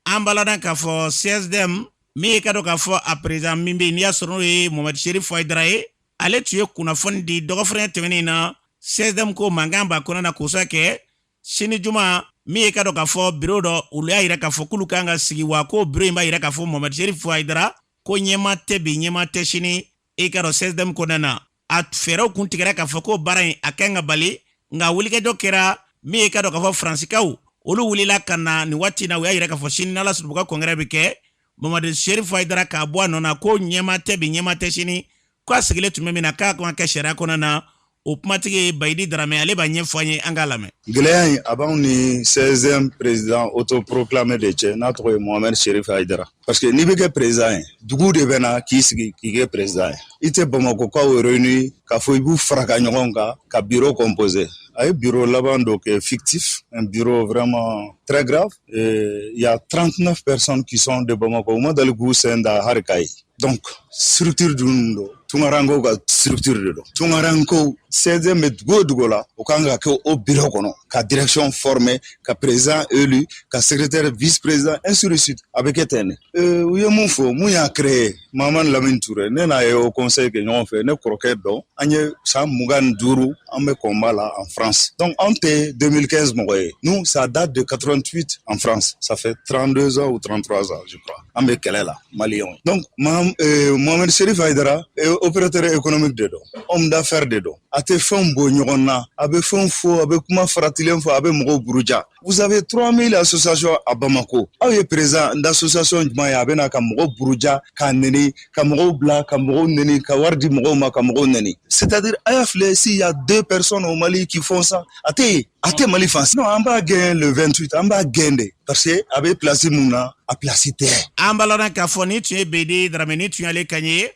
Speaker 2: an b'aw ladɔnniya k'a fɔ CSDM min ye ka dɔn k'a fɔ a président min bɛ n'i y'a sɔrɔ n'o ye Mohamed Cherif Haïdara ye ale tun ye kunnafoni di dɔgɔfrɛnya tɛmɛnen in na CSDM ko mankan b'a kɔnɔ na k'o sababu kɛ sini juma min ye ka dɔn k'a fɔ biro dɔ olu y'a yira k'a fɔ k'olu kan ka sigi wa ko biro in b'a yira k'a fɔ Mohamed Cherif Haïdara ko ɲɛma tɛ bi ɲɛma tɛ sini i ka dɔn CSDM kɔnɔna na a fɛɛrɛw kun tigɛra k'a fɔ ko baara in a kan ka bali nka wulikajɔ kɛra min ye ka dɔn k'a fɔ faransikaw olu wulila ka na nin waati na u y'a yira k'a fɔ sini n'ala sɔnna u ka congrès bɛ kɛ Mohamed Cherif Haïdara k'a bɔ a nɔ na ko ɲɛma tɛ bi ɲɛma tɛ sini ko a sigilen tun bɛ min na k'a kan ka kɛ sariya kɔnɔna na o kumatigi bayidi darame ale b'a ɲɛfɔ an ye an k'a lamɛn gɛlɛya in a b'anw
Speaker 17: ni CSDM président autoproclamé de cɛ n'a tɔgɔ ye mohamed cherif haidara parce que n'i bɛ kɛ président ye dugu de bɛ na k'i sigi k'i kɛ président ye i tɛ bamakokaw réuni k'a fɔ i b'u fara ka ɲɔgɔn kan ka bureau composer a ye bureau laban dɔ kɛ fictif un bureau vraiment très grave il y a 39 personnes qui sont de bamako u ma dali k'u sen da hali kayi Donc, structure dun don tunkaranko ka structure de don tunkaranko CSDM bɛ dugu o dugu la o kan ka kɛ o biro kɔnɔ ka direction former ka président élu ka secrétaire vice président ainsi de suite a bɛ kɛ ten de euh, u ye mun fɔ mun y'a créé mamani lamini ture ne n'a ye haut conseil kɛ ɲɔgɔn fɛ ne kɔrɔkɛ don an ye san mugan ni duuru an bɛ combat la en france donc anw tɛ 2015 mɔgɔ ye nous ça date de 88 en france ça fait 32 ans ou 33 ans je crois an bɛ kɛlɛ la maliyɛnw donc mohamɛdi serifa hayidara opérateur économique de don homme d'affaires de don a tɛ fɛnw bɔ ɲɔgɔn na a bɛ fɛnw fɔ a bɛ kuma faratilen fɔ a bɛ mɔgɔw buruja vous avez 3000 associations à Bamako aw ye président d'association jumɛn ye a bɛ na ka mɔgɔw buruja k'a neni ka mɔgɔw bila ka mɔgɔw neni ka wari di mɔgɔw ma ka mɔgɔw neni c'est-à-dire a y'a filɛ s'il y a deux personnes au Mali qui font ça a tɛ yen a tɛ mali fan si na an b'a gɛn le 28 an b'a gɛn de parce que a bɛ pilasi mun na a pilasi tɛ an balana k'a fɔ
Speaker 2: nin tun ye bayidi darame nin tun y'ale kan ye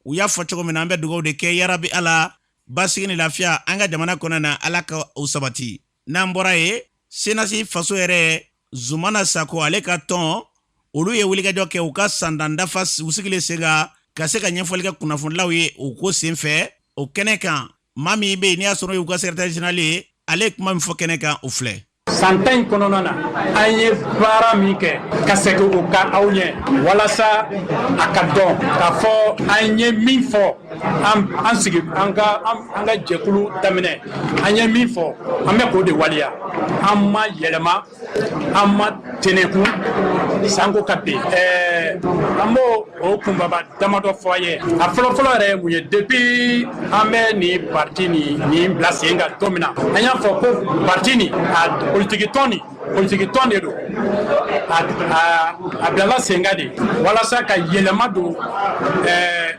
Speaker 2: u y'a fɔ cogo min na an bɛ dugawu de kɛ yarabi ala basigi ni lafiya an ka jamana kɔnɔ na ala ka o sabati n'an bɔra yen CNAS faso hɛrɛ zumana sako ale ka tɔn olu ye wulikajɔ kɛ u ka san tan dafa u sigilen sen kan ka se ka ɲɛfɔli kɛ kunnafonidilaw ye u ko sen fɛ o kɛnɛ kan maa min bɛ yen n'i y'a sɔrɔ y'u ka secrétaire général ye ale ye kuma min fɔ kɛnɛ kan o filɛ san tan in kɔnɔna
Speaker 18: na an ye baara min kɛ ka segin o kan aw ɲɛ walasa a ka dɔn k'a fɔ an ye min fɔ an sigi an ka an ka jɛkulu daminɛ an ye min fɔ an bɛ k'o de waleya an ma yɛlɛma an ma tɛnɛku sanko ka bin ɛɛ an b'o o kunbaba damadɔ fɔ aw ye a fɔlɔfɔlɔ yɛrɛ ye mun ye depuis an bɛ nin parti ni nin bila sen kan don min na an y'a fɔ ko parti nin a politiki tɔn nin politiki tɔn de don a bilala sen kan de walasa ka yɛlɛma don ɛɛ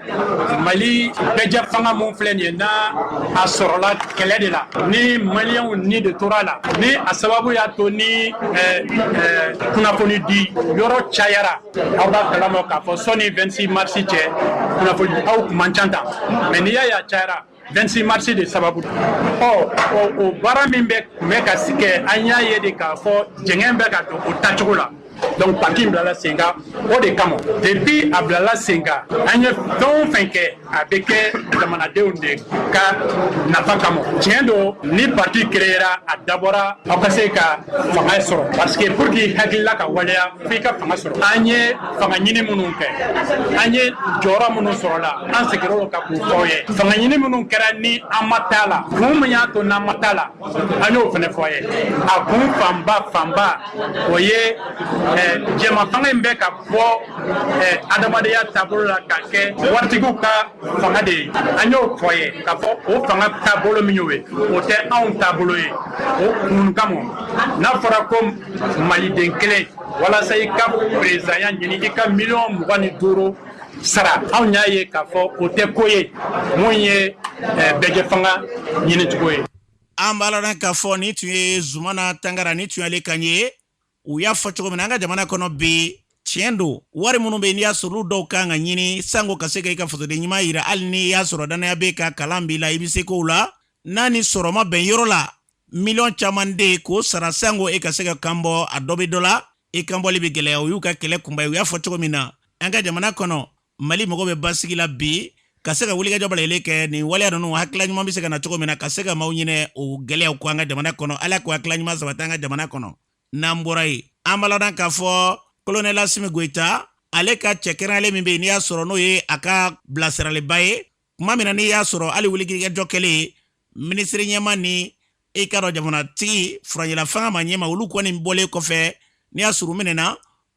Speaker 18: mali bɛɛjɛfanga min filɛ nin ye n'a a sɔrɔla kɛlɛ de la ni maliyɛnw ni de tora a la ni a sababu y'a to ni eh, eh, kunnafoni di yɔrɔ cayara aw b'a kalama k'a fɔ sani 26 marisi cɛ kunnafoni a kun man ca tan mais n'i y'a y'a cayara 26 mars de sababu ɔ o baara min bɛ tun bɛ ka kɛ an y'a ye de k'a fɔ jɛngɛn bɛ ka don o taacogo la donc parti in bilala sen kan o de kama depuis a bilala sen kan an ye fɛn o fɛn kɛ a bɛ kɛ jamanadenw de ka nafa kama tiɲɛ don ni parti créera a dabɔra aw ka se ka fanga sɔrɔ parce que pour que i hakilila ka waleya f'i ka fanga sɔrɔ an ye fanga ɲini minnu kɛ an ye jɔyɔrɔ minnu sɔrɔla an segira o kan k'u fɔ aw ye fanga ɲini minnu kɛra ni an ma t'a la kun min y'a to n'an ma t'a la an y'o fana fɔ aw ye a kun fanba fanba o ye eh, jɛma fanga in bɛ ka bɔ eh, adamadenya taabolo la ka kɛ waritigiw ka fanga de ye an y'o fɔ aw ye k'a fɔ o fanga taabolo min y'o ye o tɛ anw taabolo ye o kun kama n'a fɔra ko maliden kelen walasa i ka perezidanya ɲini i ka miliyɔn mugan ni duuru sara anw y'a ye k'a fɔ o tɛ ko ye min ye eh, bɛɛjɛfanga ɲinicogo ye an b'aw
Speaker 2: ladɔnniya k'a fɔ nin tun ye zumana tangara nin tun y'ale kan ye u y'a fɔ cogo min na an ka jamana kɔnɔ bi tiɲɛ don wari minnu bɛ n'i y'a sɔrɔ olu dɔw ka kan ka ɲini sanko ka se ka i ka fasoden ɲuman yira hali n'i y'a sɔrɔ dannaya b'i kan kalan b'i la i bɛ se kow la n'a ni sɔrɔ ma bɛn yɔrɔ la miliyɔn caman de ye k'o sara sanko i ka se k'i kan bɔ a dɔ bɛ dɔ la i kanbɔli bɛ gɛlɛya o y'u ka kɛlɛ kunba ye u y'a fɔ cogo min na an ka jamana kɔnɔ mali mago bɛ basigi la bi ka se ka wulikajɔ balalen kɛ nin waleya ninnu hakilila ɲuman bɛ se ka na cogo min na ka se ka maaw ɲinɛ o gɛlɛyaw kɔ an ka jamana kɔnɔ ala k'o hakilila ɲuman sabati an ka jamana kɔnɔ n'an bɔra yen an b'aw ladɔnniya k'a fɔ kolonɛli asimi goyita ale ka cɛ kɛrɛnlen min bɛ yen n'i y'a sɔrɔ n'o ye a ka bilasiralibaa ye tuma min na n'i y'a sɔrɔ hali wulikajɔ kɛlen minisiriɲɛmaa ni i k'a dɔn jamanatigi furancɛla fanga maaɲɛmaa olu kɔni bɔlen kɔfɛ n'i y'a sɔrɔ u minɛna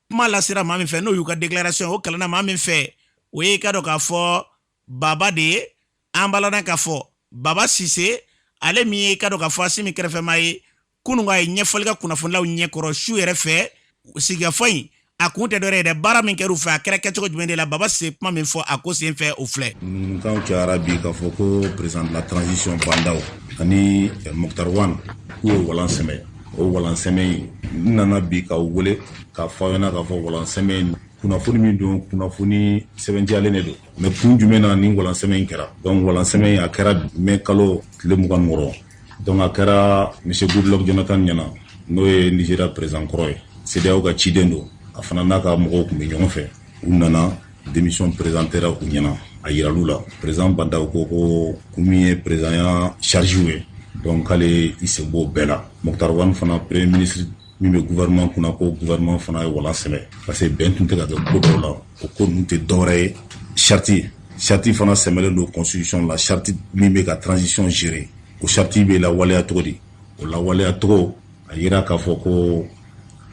Speaker 2: kuma lasera maa min fɛ n'o y'u ka déclaration o kalanna maa min fɛ o y'i k'a dɔn k'a fɔ baba de ye an b'aw ladɔnniya k'a fɔ baba sise ale min y'i k'a dɔn k'a fɔ asimi kɛrɛfɛmaa ye kunun a ye ɲɛfɔli kɛ kunnafonilaw ɲɛkɔrɔ su yɛrɛ fɛ sigikafɔ in a kun tɛ dɔwɛrɛ ye dɛ baara min kɛra u fɛ a kɛra kɛcogo jumɛn de la baba sise ye kuma min fɔ a ko sen fɛ o filɛ ŋunuŋunukan cayara
Speaker 19: bi k'a fɔ ko président de la transition Bah N'Daw ani eh, Moctar Ouane k'u ye walan sɛmɛ o walan sɛmɛ in n nana bi k'aw wele k'a fɔ aw ɲɛna k'a fɔ walan sɛmɛ in kunnafoni min don kunnafoni sɛbɛntiyalen de don mais kun jumɛn na nin walan sɛmɛ in kɛra donc walan sɛmɛ in a kɛra mɛ kalo tile mugan ni wɔɔrɔ Donc a kɛra monsieur Goodluck Jonathan ɲɛna n'o ye Nigeria président kɔrɔ ye CEDEAO ka ciden don a fana n'a ka mɔgɔw tun bɛ ɲɔgɔn fɛ u nana démission présentera u ɲɛna a yiral'u la président Bah N'Daw ko ko kun min ye présidentya charge ye donc k'ale y'i sen b'o bɛɛ la Moctar Ouane fana premier ministre min bɛ gouvernement kunna ko gouvernement fana ye walan sɛmɛ parce que bɛn tun tɛ ka kɛ ko dɔw la o ko ninnu tɛ dɔwɛrɛ ye charte charte fana sɛmɛlen don constitution la charte min bɛ ka transition gérer o charte bɛ lawaleya cogo di o lawaleya cogo a yira k'a fɔ ko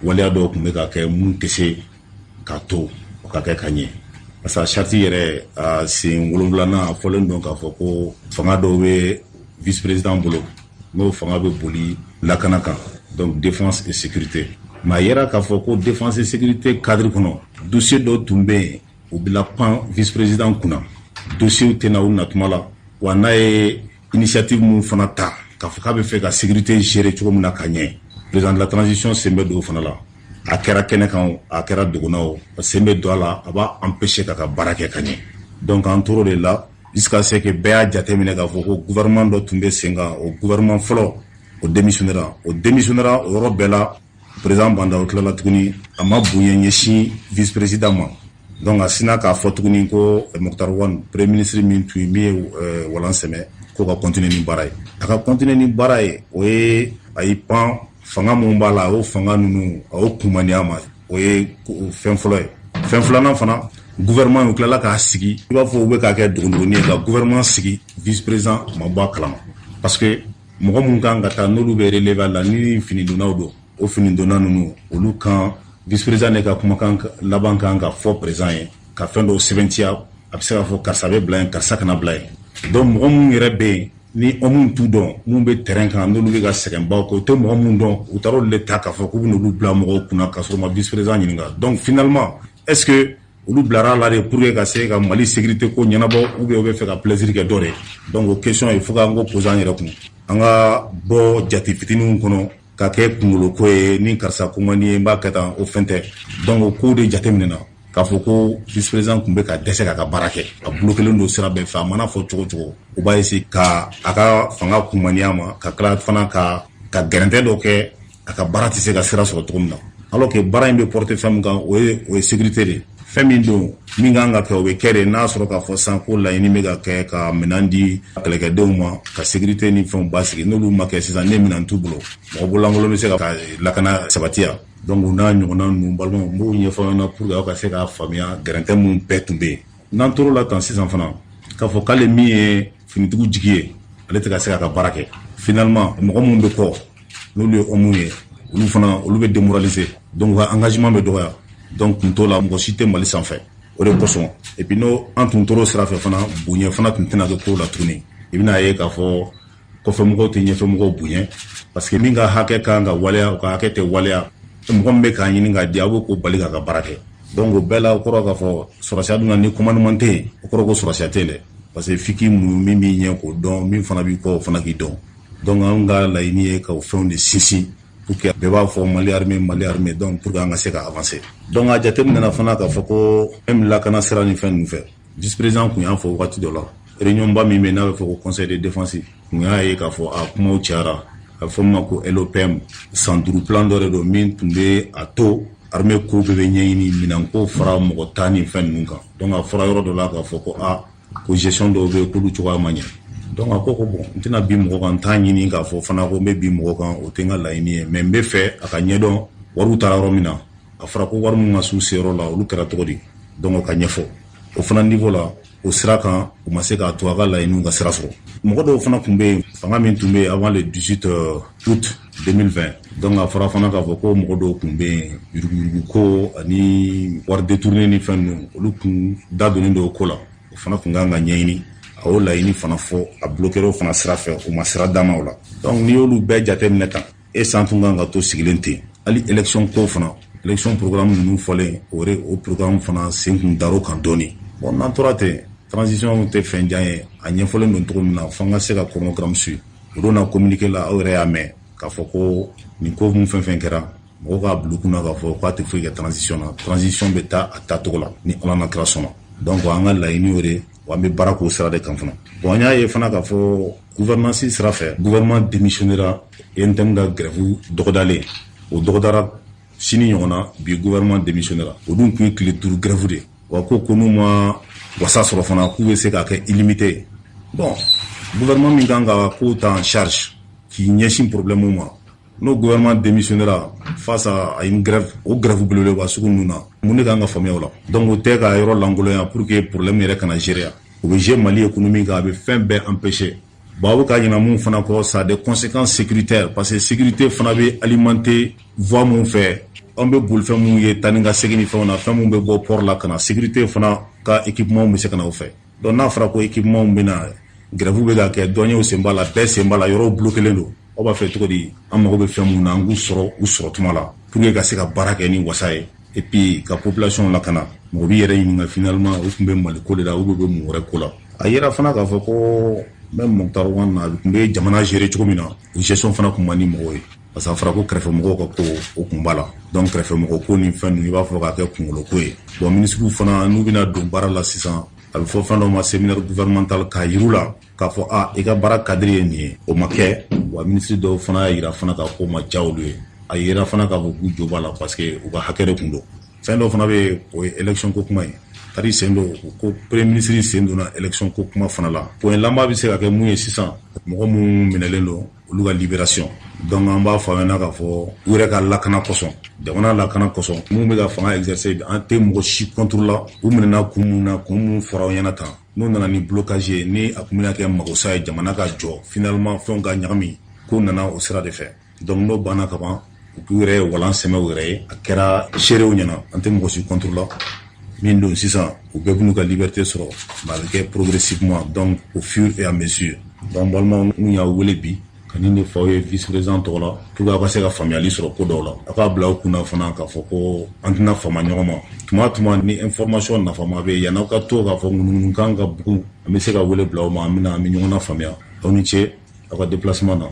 Speaker 19: waleya dɔw tun bɛ ka kɛ mun tɛ se k'a to o ka kɛ ka ɲɛ parce que charte yɛrɛ a sen wolonwulanan a fɔlen don k'a fɔ ko fanga dɔw bɛ vice président bolo n'o fanga bɛ boli lakana kan donc défense et sécurité mais a yera k'a fɔ ko défense et sécurité cadre kɔnɔ dossier dɔ tun bɛ yen o bɛ lapan vice président kunna dossier tɛ na u natuma la wa n'a ye initiative min fana ta k'a fɔ k'a bɛ fɛ ka sécurité gérer cogo min na ka ɲɛ président de la transition sen bɛ don o fana la a kɛra kɛnɛ kan o a kɛra dogo na o sen bɛ don a la a b'a empêcher k'a ka baara kɛ ka ɲɛ donc an tor'o de la Jusqu'à ce que bɛɛ y'a jateminɛ k'a fɔ ko gouvernement dɔ tun bɛ sen kan o gouvernement fɔlɔ o démissionnera o démissionnera o yɔrɔ bɛɛ la président Bah N'Daw tilala tuguni a ma bonya ɲɛsin vice président ma donc a sina k'a fɔ tuguni ko eh, Moctar Ouane premier ministre min tun ye min ye eh, walan sɛmɛ k'o ka continuer ni baara ye a ka continuer ni baara ye o ye a y'i pan fanga minnu b'a la o fanga ninnu a y'o kumaniya ma o ye fɛn fɔlɔ ye fɛn filanan fana gouvernement u tilala k'a sigi i b'a fɔ u bɛ k'a kɛ dogondogoni ye ka gouvernement sigi vice président ma bɔ a kalama parce que mɔgɔ minnu kan ka taa n'olu bɛ relever la ni finidonnaw don o finidonna ninnu olu kan vice président de ka kumakan laban kan ka fɔ président ye ka fɛn dɔw sɛbɛntiya a bɛ se k'a fɔ karisa bɛ bila yen karisa kana bila yen donc mɔgɔ minnu yɛrɛ bɛ yen ni minnu t'u dɔn minnu bɛ terrain kan n'olu bɛ ka sɛgɛnbaw kɛ u tɛ mɔgɔ minnu dɔn u taara olu de ta k'a fɔ k'u bɛn'olu bila mɔgɔw kunna ka sɔrɔ u ma vice président ɲininka donc finalement est ce que olu bilara a la de pour que ka se ka Mali sécurité ko ɲɛnabɔ ou bien u bɛ fɛ ka plaisir kɛ dɔ de ye donc o question il faut que an k'o poser an yɛrɛ kun an ka bɔ jate fitininw kɔnɔ ka kɛ kunkolo ko ye ni karisa ko man di n ye n b'a kɛ tan o fɛn tɛ donc o ko de jateminɛna k'a fɔ ko vice président tun bɛ ka dɛsɛ k'a ka baara kɛ a bloquélen don sira bɛɛ fɛ a mana fɔ cogo cogo u b'a essayer ka a ka fanga kunmaniya ma ka tila fana ka ka gɛrɛntɛ dɔ kɛ a ka baara tɛ se ka sira sɔrɔ cogo min na alors que baara in bɛ porter fɛn min kan o o ye sécurité de fɛn min don min kan ka kɛ o bɛ kɛ de n'a sɔrɔ k'a fɔ san ko laɲini bɛ ka kɛ ka minɛn di kɛlɛkɛdenw ma ka sécurité ni fɛnw basigi n'olu ma kɛ sisan ni minɛn t'u bolo mɔgɔ bololankolon bɛ se ka lakana sabatiya donc u n'a ɲɔgɔnna ninnu balimaw n b'o ɲɛfɔ aw ɲɛna pour que aw ka se k'a faamuya gɛrɛntɛ minnu bɛɛ tun bɛ yen n'an tor'o la tan sisan fana k'a fɔ k'ale min ye finitigiw jigi ye ale tɛ ka se k'a ka baara kɛ finalement mɔgɔ minnu bɛ kɔ n'olu ye hommes ye olu fana olu bɛ démoraliser donc u ka engagement bɛ dɔgɔya donc kun t'o la mɔgɔ si tɛ Mali sanfɛ o de kosɔn et puis n'o an tun tor'o sira fɛ fana bonya fana tun tɛna kɛ kow la tuguni i bɛna ye k'a fɔ kɔfɛmɔgɔw tɛ ɲɛfɛmɔgɔw bonya parce que min ka hakɛ ka kan ka waleya o ka hakɛ tɛ waleya mɔgɔ min bɛ k'a ɲini k'a di a b'o ko bali k'a ka baara kɛ donc o bɛɛ la o kɔrɔ k'a fɔ sɔrɔsiya dun na ni commandement tɛ yen o kɔrɔ ko sɔrɔsiya tɛ yen dɛ parce que f'i k'i muɲu min b'i ɲɛ k'o dɔn min fana b'i kɔ o fana k'i dɔn donc anw ka laɲini ye ka o fɛnw de sinsin pour que bɛɛ b'a fɔ mali armée mali armée donc pour que an ka se ka avancer donc a jateminɛna fana k'a fɔ ko même lakana sira ni fɛn ninnu fɛ vice président kun y'a fɔ wagati dɔ la réunion ba min bɛ n'a bɛ fɔ ko conseil de défense kun y'a ye k'a fɔ a kumaw cayara a bɛ fɔ min ma ko LOPM san duuru plan dɔ de don min tun bɛ a to armée ko bɛɛ bɛ ɲɛɲini minɛnko fara mɔgɔ ta ni fɛn ninnu kan donc a fɔra yɔrɔ dɔ la k'a fɔ ko a ko gestion dɔw bɛ yen k'olu cogoya ma ɲɛ donc a ko ko bon n tɛna bin mɔgɔ kan n t'a ɲini k'a fɔ fana ko n bɛ bin mɔgɔ kan o tɛ n ka laɲini ye mais n b'a fɛ a ka ɲɛdɔn wariw taara yɔrɔ min na a fɔra ko wari minnu ma s'u seyɔrɔ la olu kɛra cogo di donc o ka ɲɛfɔ o fana niveau la o sira kan u ma se k'a to a ka laɲiniw ka sira sɔrɔ mɔgɔ dɔw fana tun bɛ yen fanga min tun bɛ yen avant le 18 euh, août 2020 donc a fɔra fana k'a fɔ ko mɔgɔ dɔw tun bɛ yen yuruguyurugu ko ani wari détourné ni fɛn ninnu olu tun da donnen don o ko la o fana tun kan ka ɲɛɲini a y'o laɲini fana fo a bloquera o fana sira fɛ u ma sira d'a ma o la donc n'i y'olu bɛɛ jateminɛ tan est-ce an tun kan ka to sigilen ten hali élection ko fana élection programme ninnu fɔlen o o programme fana sen kun dar'o kan dɔɔni bon n'an tora ten transition tɛ fɛn jan ye a ɲɛfɔlen don cogo min na fo an ka se ka chronogramme suivre o don na communiqué la aw yɛrɛ y'a mɛn k'a fɔ ko nin ko mun fɛn fɛn kɛra mɔgɔw k'a bila u kunna k'a fɔ k'a tɛ foyi kɛ transition na transition bɛ taa a taacogo la ni ala n'a kira sɔnna donc an ka laɲini y'o de ye Wa an bɛ baara k'o sira de kan fana bon an y'a ye fana k'a fɔ gouvernance sira fɛ gouvernement démissionnera UNTM ka grève dɔgɔdalen o dɔgɔdara sini ɲɔgɔn na bi gouvernement démissionnera o dun tun ye tile duuru grève de ye wa ko ko n'u ma wasa sɔrɔ fana k'u bɛ se k'a kɛ illimité ye bon gouvernement min kan ka kow ta en charge k'i ɲɛsin problème ma n'o gouvernement démissionnera face à une grève o grève belebeleba sugu ninnu na mun de kan ka faamuya o la donc o tɛ ka yɔrɔ lankolonya pour que problème yɛrɛ kana gérer o bɛ jouer mali économie kan a bɛ fɛn bɛɛ empêcher bon aw bɛ ka ɲinɛ min fana kɔ ça a des conséquences sécuritaires parce que sécurité fana bɛ alimenter voie mun fɛ an bɛ bolifɛn minnu ye taa ni ka segin ni fɛnw na fɛn minnu bɛ bɔ port la ka na sécurité fana ka équipement bɛ se ka na o fɛ Donc n'a fɔra ko équipementw bɛ na grève bɛ ka kɛ douanierw sen b'a la bɛɛ sen b'a la yɔrɔw bloquelen don aw b'a fɛ cogo di an mago bɛ fɛn min na an k'u sɔrɔ u sɔrɔ tuma la pour que ka se ka baara kɛ ni wasa ye et puis ka population lakana mɔgɔ b'i yɛrɛ ɲininka finalement u tun bɛ mali ko de la u bɛ bɛ mun wɛrɛ ko la a yera fana k'a fɔ ko même Moctar Ouane tun bɛ jamana gérer cogo min na o gestion fana tun man di mɔgɔw ye parce que a fɔra ko kɛrɛfɛmɔgɔw ka ko o kun b'a la donc kɛrɛfɛmɔgɔ ko ni fɛn ninnu i b'a fɔ k'a kɛ kungolo ko ye bon minisiriw fana n'u bɛna don baara la sisan a bɛ fɔ fɛn dɔ ma séminaire gouvernemental k'a yir'u la k'a fɔ a i ka baara cadre ye nin ye o ma kɛ wa minisiri dɔw fana y'a yira fana k'a ko ma diya olu ye a yira fana k'a fɔ k'u jo b'a la parce que u ka hakɛ de kun don fɛn dɔ fana bɛ yen o ye élection ko kuma ye kari sen don ko premier minisiri sen donna élection ko kuma fana la point laban bɛ se ka kɛ mun ye sisan mɔgɔ minnu minɛlen don olu ka libération donc an b'a fɔ aw ɲɛna k'a fɔ u yɛrɛ ka lakana kosɔn jamana lakana kosɔn minnu bɛ ka fanga exercer bi an tɛ mɔgɔ si contre la u minɛna kun minnu na kun minnu fɔra aw ɲɛna tan n'u nana ni blocage ye ni a tun bɛna kɛ magosa ye jamana ka jɔ finalement fɛnw ka ɲagami ko nana o sira de fɛ donc n'o banna ka ban u yɛrɛ ye walan sɛmɛ u yɛrɛ ye a kɛra seerew ɲɛna an tɛ mɔgɔ si contre la min don sisan u bɛɛ b'u ka liberté sɔrɔ a bɛ kɛ progressivement donc au fur et à mesure donc balimaw n y'aw wele bi ka nin de f'aw ye vice-président tɔgɔ la pour que aw ka se ka faamuyali sɔrɔ ko dɔw la aw k'a bila aw kun na fana k'a fɔ ko an tɛna fama ɲɔgɔn ma tuma tuma ni information nafama bɛ yen yan'aw ka to k'a fɔ ŋunuŋunukan ka bugu an bɛ se ka wele bila aw ma an bɛna an bɛ ɲɔgɔn faamuya aw ni ce aw ka déplacement na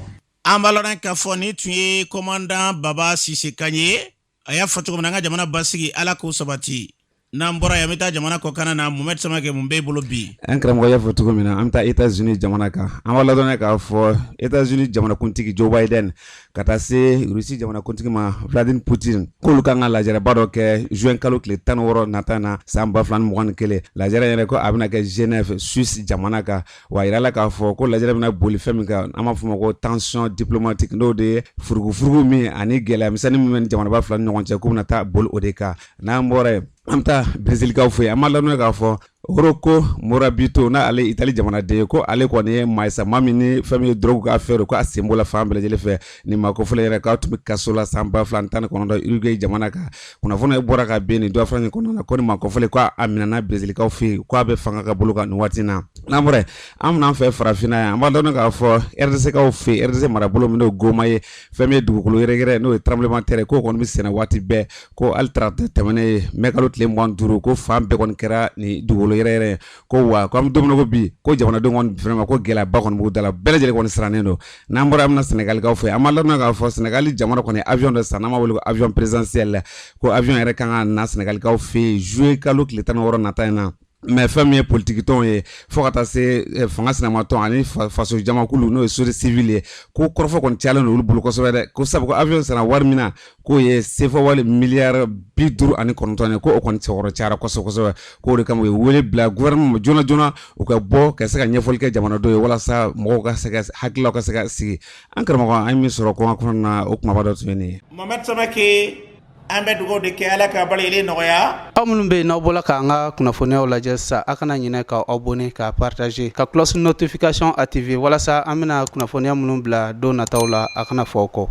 Speaker 19: an b'a lɔn
Speaker 2: k'a fɔ nin tun ye komandan baba sise kan ye a y'a fɔ cogo min na an ka jamana basigi ala k'o sabati n'an bɔra yan an bɛ taa jamana kɔkanna na mohamed samakɛ mun b'e bolo bi an karamɔgɔ y'a fɔ cogo
Speaker 20: min na an bɛ taa états-unis jamana kan an b'a ladɔn k'a fɔ états-unis jamanakuntigi joe biden ka taa se russie jamanakuntigi ma vladimir poutine k'olu kan ka lajɛrɛba dɔ kɛ juin kalo tile tan ni wɔɔrɔ nata na san ba fila ni mugan ni kelen lajɛrɛ yɛrɛ ko a bɛna kɛ genève suisse jamana kan w'a yirala k'a fɔ ko lajɛrɛ bɛna boli fɛn min kan an b'a fɔ o ma ko tension diplomatique n'o de ye furugufurugu min ani gɛlɛya misɛnnin min bɛ jamanaba fila ni ɲɔgɔn cɛ k'o bɛna taa boli o de kan n'an bɔra yen an bɛ taa brezilikaw fɛ yen an b'a ladɔn k'a fɔ rocco morabito n'ale itali jamanaden ye ko ale kɔni ye maasama min ni fɛn min ye drogue ka affaire ko a sen b'o la fan bɛɛ lajɛlen fɛ nin maa kofɔlen yɛrɛ k'a tun bɛ kaso la san ba fila ni tan ni kɔnɔntɔn uruguay jamana kan kunnafoni ye bɔra ka bɛn nin don fila kɔnɔna na ko nin maa kofɔlen ko a minɛna brezilikaw fɛ yen k'a bɛ fanga ka bolo kan nin waati na n'an bɔra an bɛna an fɛ farafinna yan an b'a dɔn k'a fɔ rdckaw fɛ yen rdc marabolo min n'o goma ye fɛn min ye dugukolo yɛrɛyɛrɛ n'o ye tremblement de terre k'o kɔni bɛ senna waati bɛɛ ko hali tarata tɛmɛnen in mɛ kalo tile mugan ni duuru ko fan bɛɛ kɔni kɛra nin dugukolo yɛrɛyɛrɛ ye ko wa ko an bɛ don min na ko bi ko jamanadenw vraiment ko gɛlɛyaba kɔni b'u da la bɛɛ lajɛlen kɔni sirannen don n'an bɔra an bɛna sɛnɛgalikaw fɛ an b'a ladɔn k'a fɔ sɛnɛgali jamana kɔni avion dɔ san n'an b'a wele ko avion présidentiel ko avion yɛrɛ kan ka na sɛnɛgalikaw fɛ juillet kalo tile tan ni wɔɔrɔ nata in na mais fɛn min ye politikitɔn ye fo ka taa se eh, fanga sinamatɔn ani faso jamakulu n'o ye société civile ye ko kɔrɔfɔ kɔni cayalen don olu bolo kosɛbɛ dɛ ko sabu ko avion sara wari min na k'o ye sefa wari miliyari bi duuru ani kɔnɔntɔn ye ko o kɔni sɛbɛkɔrɔ cayara kosɛbɛ kosɛbɛ k'o de kama u ye wele bila gouvernement ma joona joona u ka bɔ ka se ka ɲɛfɔli kɛ jamanadenw ye walasa mɔgɔw ka se ka hakililaw ka se ka sigi an karamɔgɔ an ye min sɔrɔ kɔkan kɔnɔna na o kumaba dɔ tun ye nin ye Mohamed
Speaker 2: Samake an bɛ dugawu de kɛ Ala ka balili nɔgɔya aw minnu bɛ yen n'aw
Speaker 1: bɔla k'an ka kunnafoniyaw lajɛ sisan a kana ɲinɛ ka abonné ka partager ka cloche notification activer walasa an bɛna kunnafoniya minnu bila don nataw la a kana fɔ aw kɔ